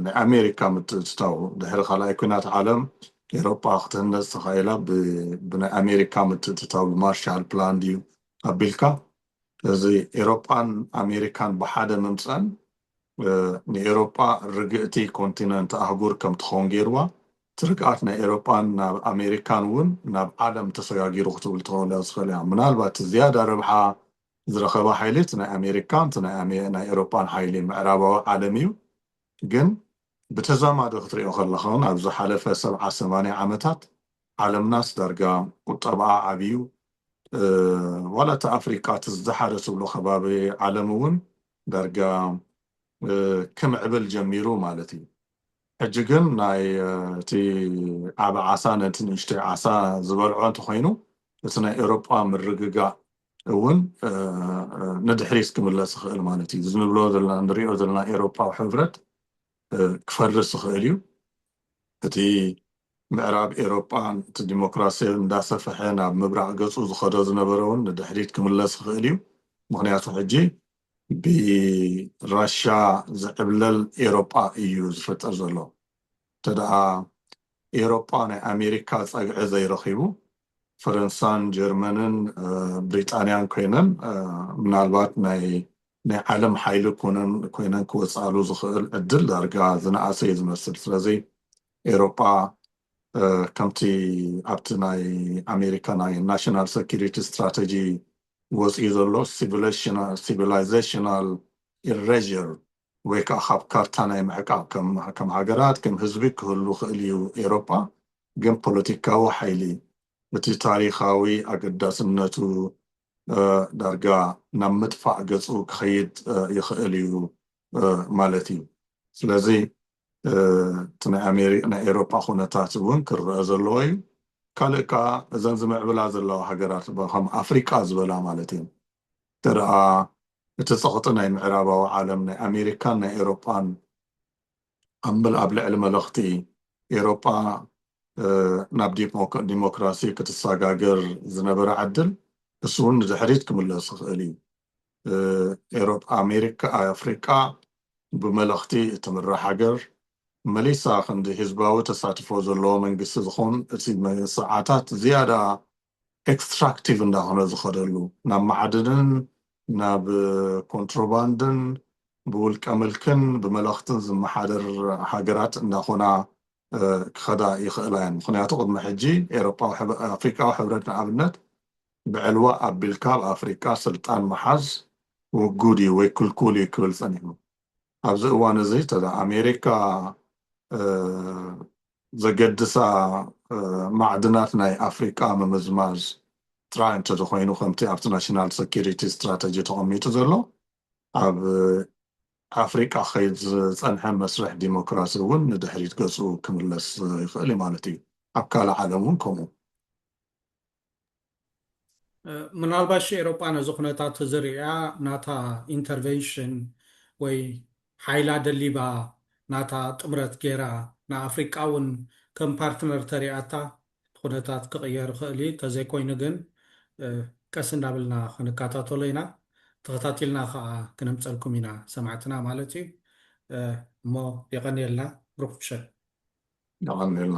ናይ ኣሜሪካ ምትእትታዉ ድሕሪ ካልኣይ ኲናት ዓለም ኤውሮፓ ክትህነጽ ተኻኢላ ብናይ ኣሜሪካ ምትእትታው ብማርሻል ፕላን ድዩ ኣቢልካ እዚ ኤሮጳን ኣሜሪካን ብሓደ ምምጸን ንኤሮጳ ርግእቲ ኮንቲነንት፣ ኣህጉር፣ ከም ትኸውን ገይርዋ። እቲ ርግኣት ናይ ኤሮጳን ናብ ኣሜሪካን እውን ናብ ዓለም ተሰጋጊሩ ክትብል ትኸእል እያ ዝኸልእያ። ምናልባት እቲ ዝያዳ ረብሓ ዝረኸበ ሓይሊ እቲ ናይ ኣሜሪካን እቲ ናይ ኤሮጳን ሓይሊ ምዕራባዊ ዓለም እዩ። ግን ብተዛማዲ ክትርእዮ ከለኻ እውን ኣብ ዝሓለፈ ሰብዓ ሰማንያ ዓመታት ዓለምናስ ዳርጋ ቁጠባኣ ዓብዩ ዋላ እቲ ኣፍሪቃ እቲ ዝደሓረ ትብሎ ከባቢ ዓለም እውን ዳርጋ ክምዕብል ጀሚሩ ማለት እዩ። ሕጂ ግን ናይ እቲ ዓቢ ዓሳ ነቲ ንእሽተይ ዓሳ ዝበልዖ እንተኾይኑ እቲ ናይ ኤሮጳ ምርግጋእ እውን ንድሕሪት ክምለስ ይኽእል ማለት እዩ። እዚ ንብሎ ዘለና ንሪኦ ዘለና ኤሮጳዊ ሕብረት ክፈርስ ይኽእል እዩ። እቲ ምዕራብ ኤሮጳን እቲ ዲሞክራሲ እንዳሰፈሐ ናብ ምብራቕ ገጹ ዝኸዶ ዝነበረ ውን ንድሕሪት ክምለስ ይኽእል እዩ። ምኽንያቱ ሕጂ ብራሻ ዝዕብለል ኤሮጳ እዩ ዝፍጠር ዘሎ። እንተደኣ ኤሮጳ ናይ ኣሜሪካ ጸግዒ ዘይረኺቡ ፈረንሳን ጀርመንን ብሪጣንያን ኮይነን ምናልባት ናይ ናይ ዓለም ሓይሊ ኮይነን ክወጽኣሉ ዝኽእል ዕድል ዳርጋ ዝነኣሰ እዩ ዝመስል። ስለዚ ኤውሮጳ ከምቲ ኣብቲ ናይ ኣሜሪካ ናይ ናሽናል ሰኩሪቲ ስትራተጂ ወጺኡ ዘሎ ሲቪላይዘሽናል ኢረዥር ወይ ከኣ ካብ ካርታ ናይ ምዕቃብ ከም ሃገራት ከም ህዝቢ ክህሉ ክእል እዩ ኤውሮጳ ግን ፖለቲካዊ ሓይሊ እቲ ታሪኻዊ ኣገዳስነቱ ዳርጋ ናብ ምጥፋእ ገጹ ክኸይድ ይኽእል እዩ ማለት እዩ። ስለዚ እቲ ናይ ኤሮፓ ኩነታት እውን ክረኣ ዘለዎ እዩ። ካልእ ከኣ እዘን ዝምዕብላ ዘለዋ ሃገራት ከም ኣፍሪቃ ዝበላ ማለት እየን እንተደኣ እቲ ጸቕጢ ናይ ምዕራባዊ ዓለም ናይ ኣሜሪካን ናይ ኤሮፓን፣ ኣብ ልዕሊ መለኽቲ ኤሮጳ ናብ ዲሞክራሲ ክትሳጋገር ዝነበራ ዕድል እሱ ውን ንድሕሪት ክምለስ ዝኽእል እዩ። ኤሮጳ ኣሜሪካ ኣፍሪቃ ብመለኽቲ እትምራሕ ሃገር መሊሳ ክንዲ ህዝባዊ ተሳትፎ ዘለዎ መንግስቲ ዝኾን እቲ ሰዓታት ዝያዳ ኤክስትራክቲቭ እንዳኾነ ዝኸደሉ ናብ ማዕድንን ናብ ኮንትሮባንድን ብውልቀ ምልክን ብመለኽትን ዝመሓደር ሃገራት እንዳኾና ክኸዳ ይኽእላ እየን። ምኽንያቱ ቅድሚ ሕጂ ኣፍሪቃዊ ሕብረት ንኣብነት ብዕልዋ ኣቢልካ ኣብ ኣፍሪቃ ስልጣን ምሓዝ ውጉድ እዩ ወይ ክልኩል እዩ ክብል ጸኒሑ። ኣብዚ እዋን እዚ ተዳ ኣሜሪካ ዘገድሳ ማዕድናት ናይ ኣፍሪቃ ምምዝማዝ ጥራይ እንተዘኮይኑ ከምቲ ኣብቲ ናሽናል ሰኪሪቲ ስትራተጂ ተቐሚጡ ዘሎ ኣብ ኣፍሪቃ ክኸይድ ዝጸንሐ መስርሕ ዲሞክራሲ እውን ንድሕሪት ገጹ ክምለስ ይኽእል እዩ ማለት እዩ። ኣብ ካልእ ዓለም እውን ከምኡ። ምናልባሽ ኤሮጳ ነዚ ኩነታት እዚ ርእያ ናታ ኢንተርቨንሽን ወይ ሓይላ ደሊባ ናታ ጥምረት ገይራ ንኣፍሪቃ እውን ከም ፓርትነር ተሪኣታ እቲ ኩነታት ክቕየር ይኽእል እዩ። ተዘይኮይኑ ግን ቀስ እንዳበልና ክንከታተሎ ኢና። ተኸታቲልና ከኣ ክነምጸልኩም ኢና ሰማዕትና ማለት እዩ። እሞ የቐንየልና ብሩኽ ምሸት። የቐንየልና።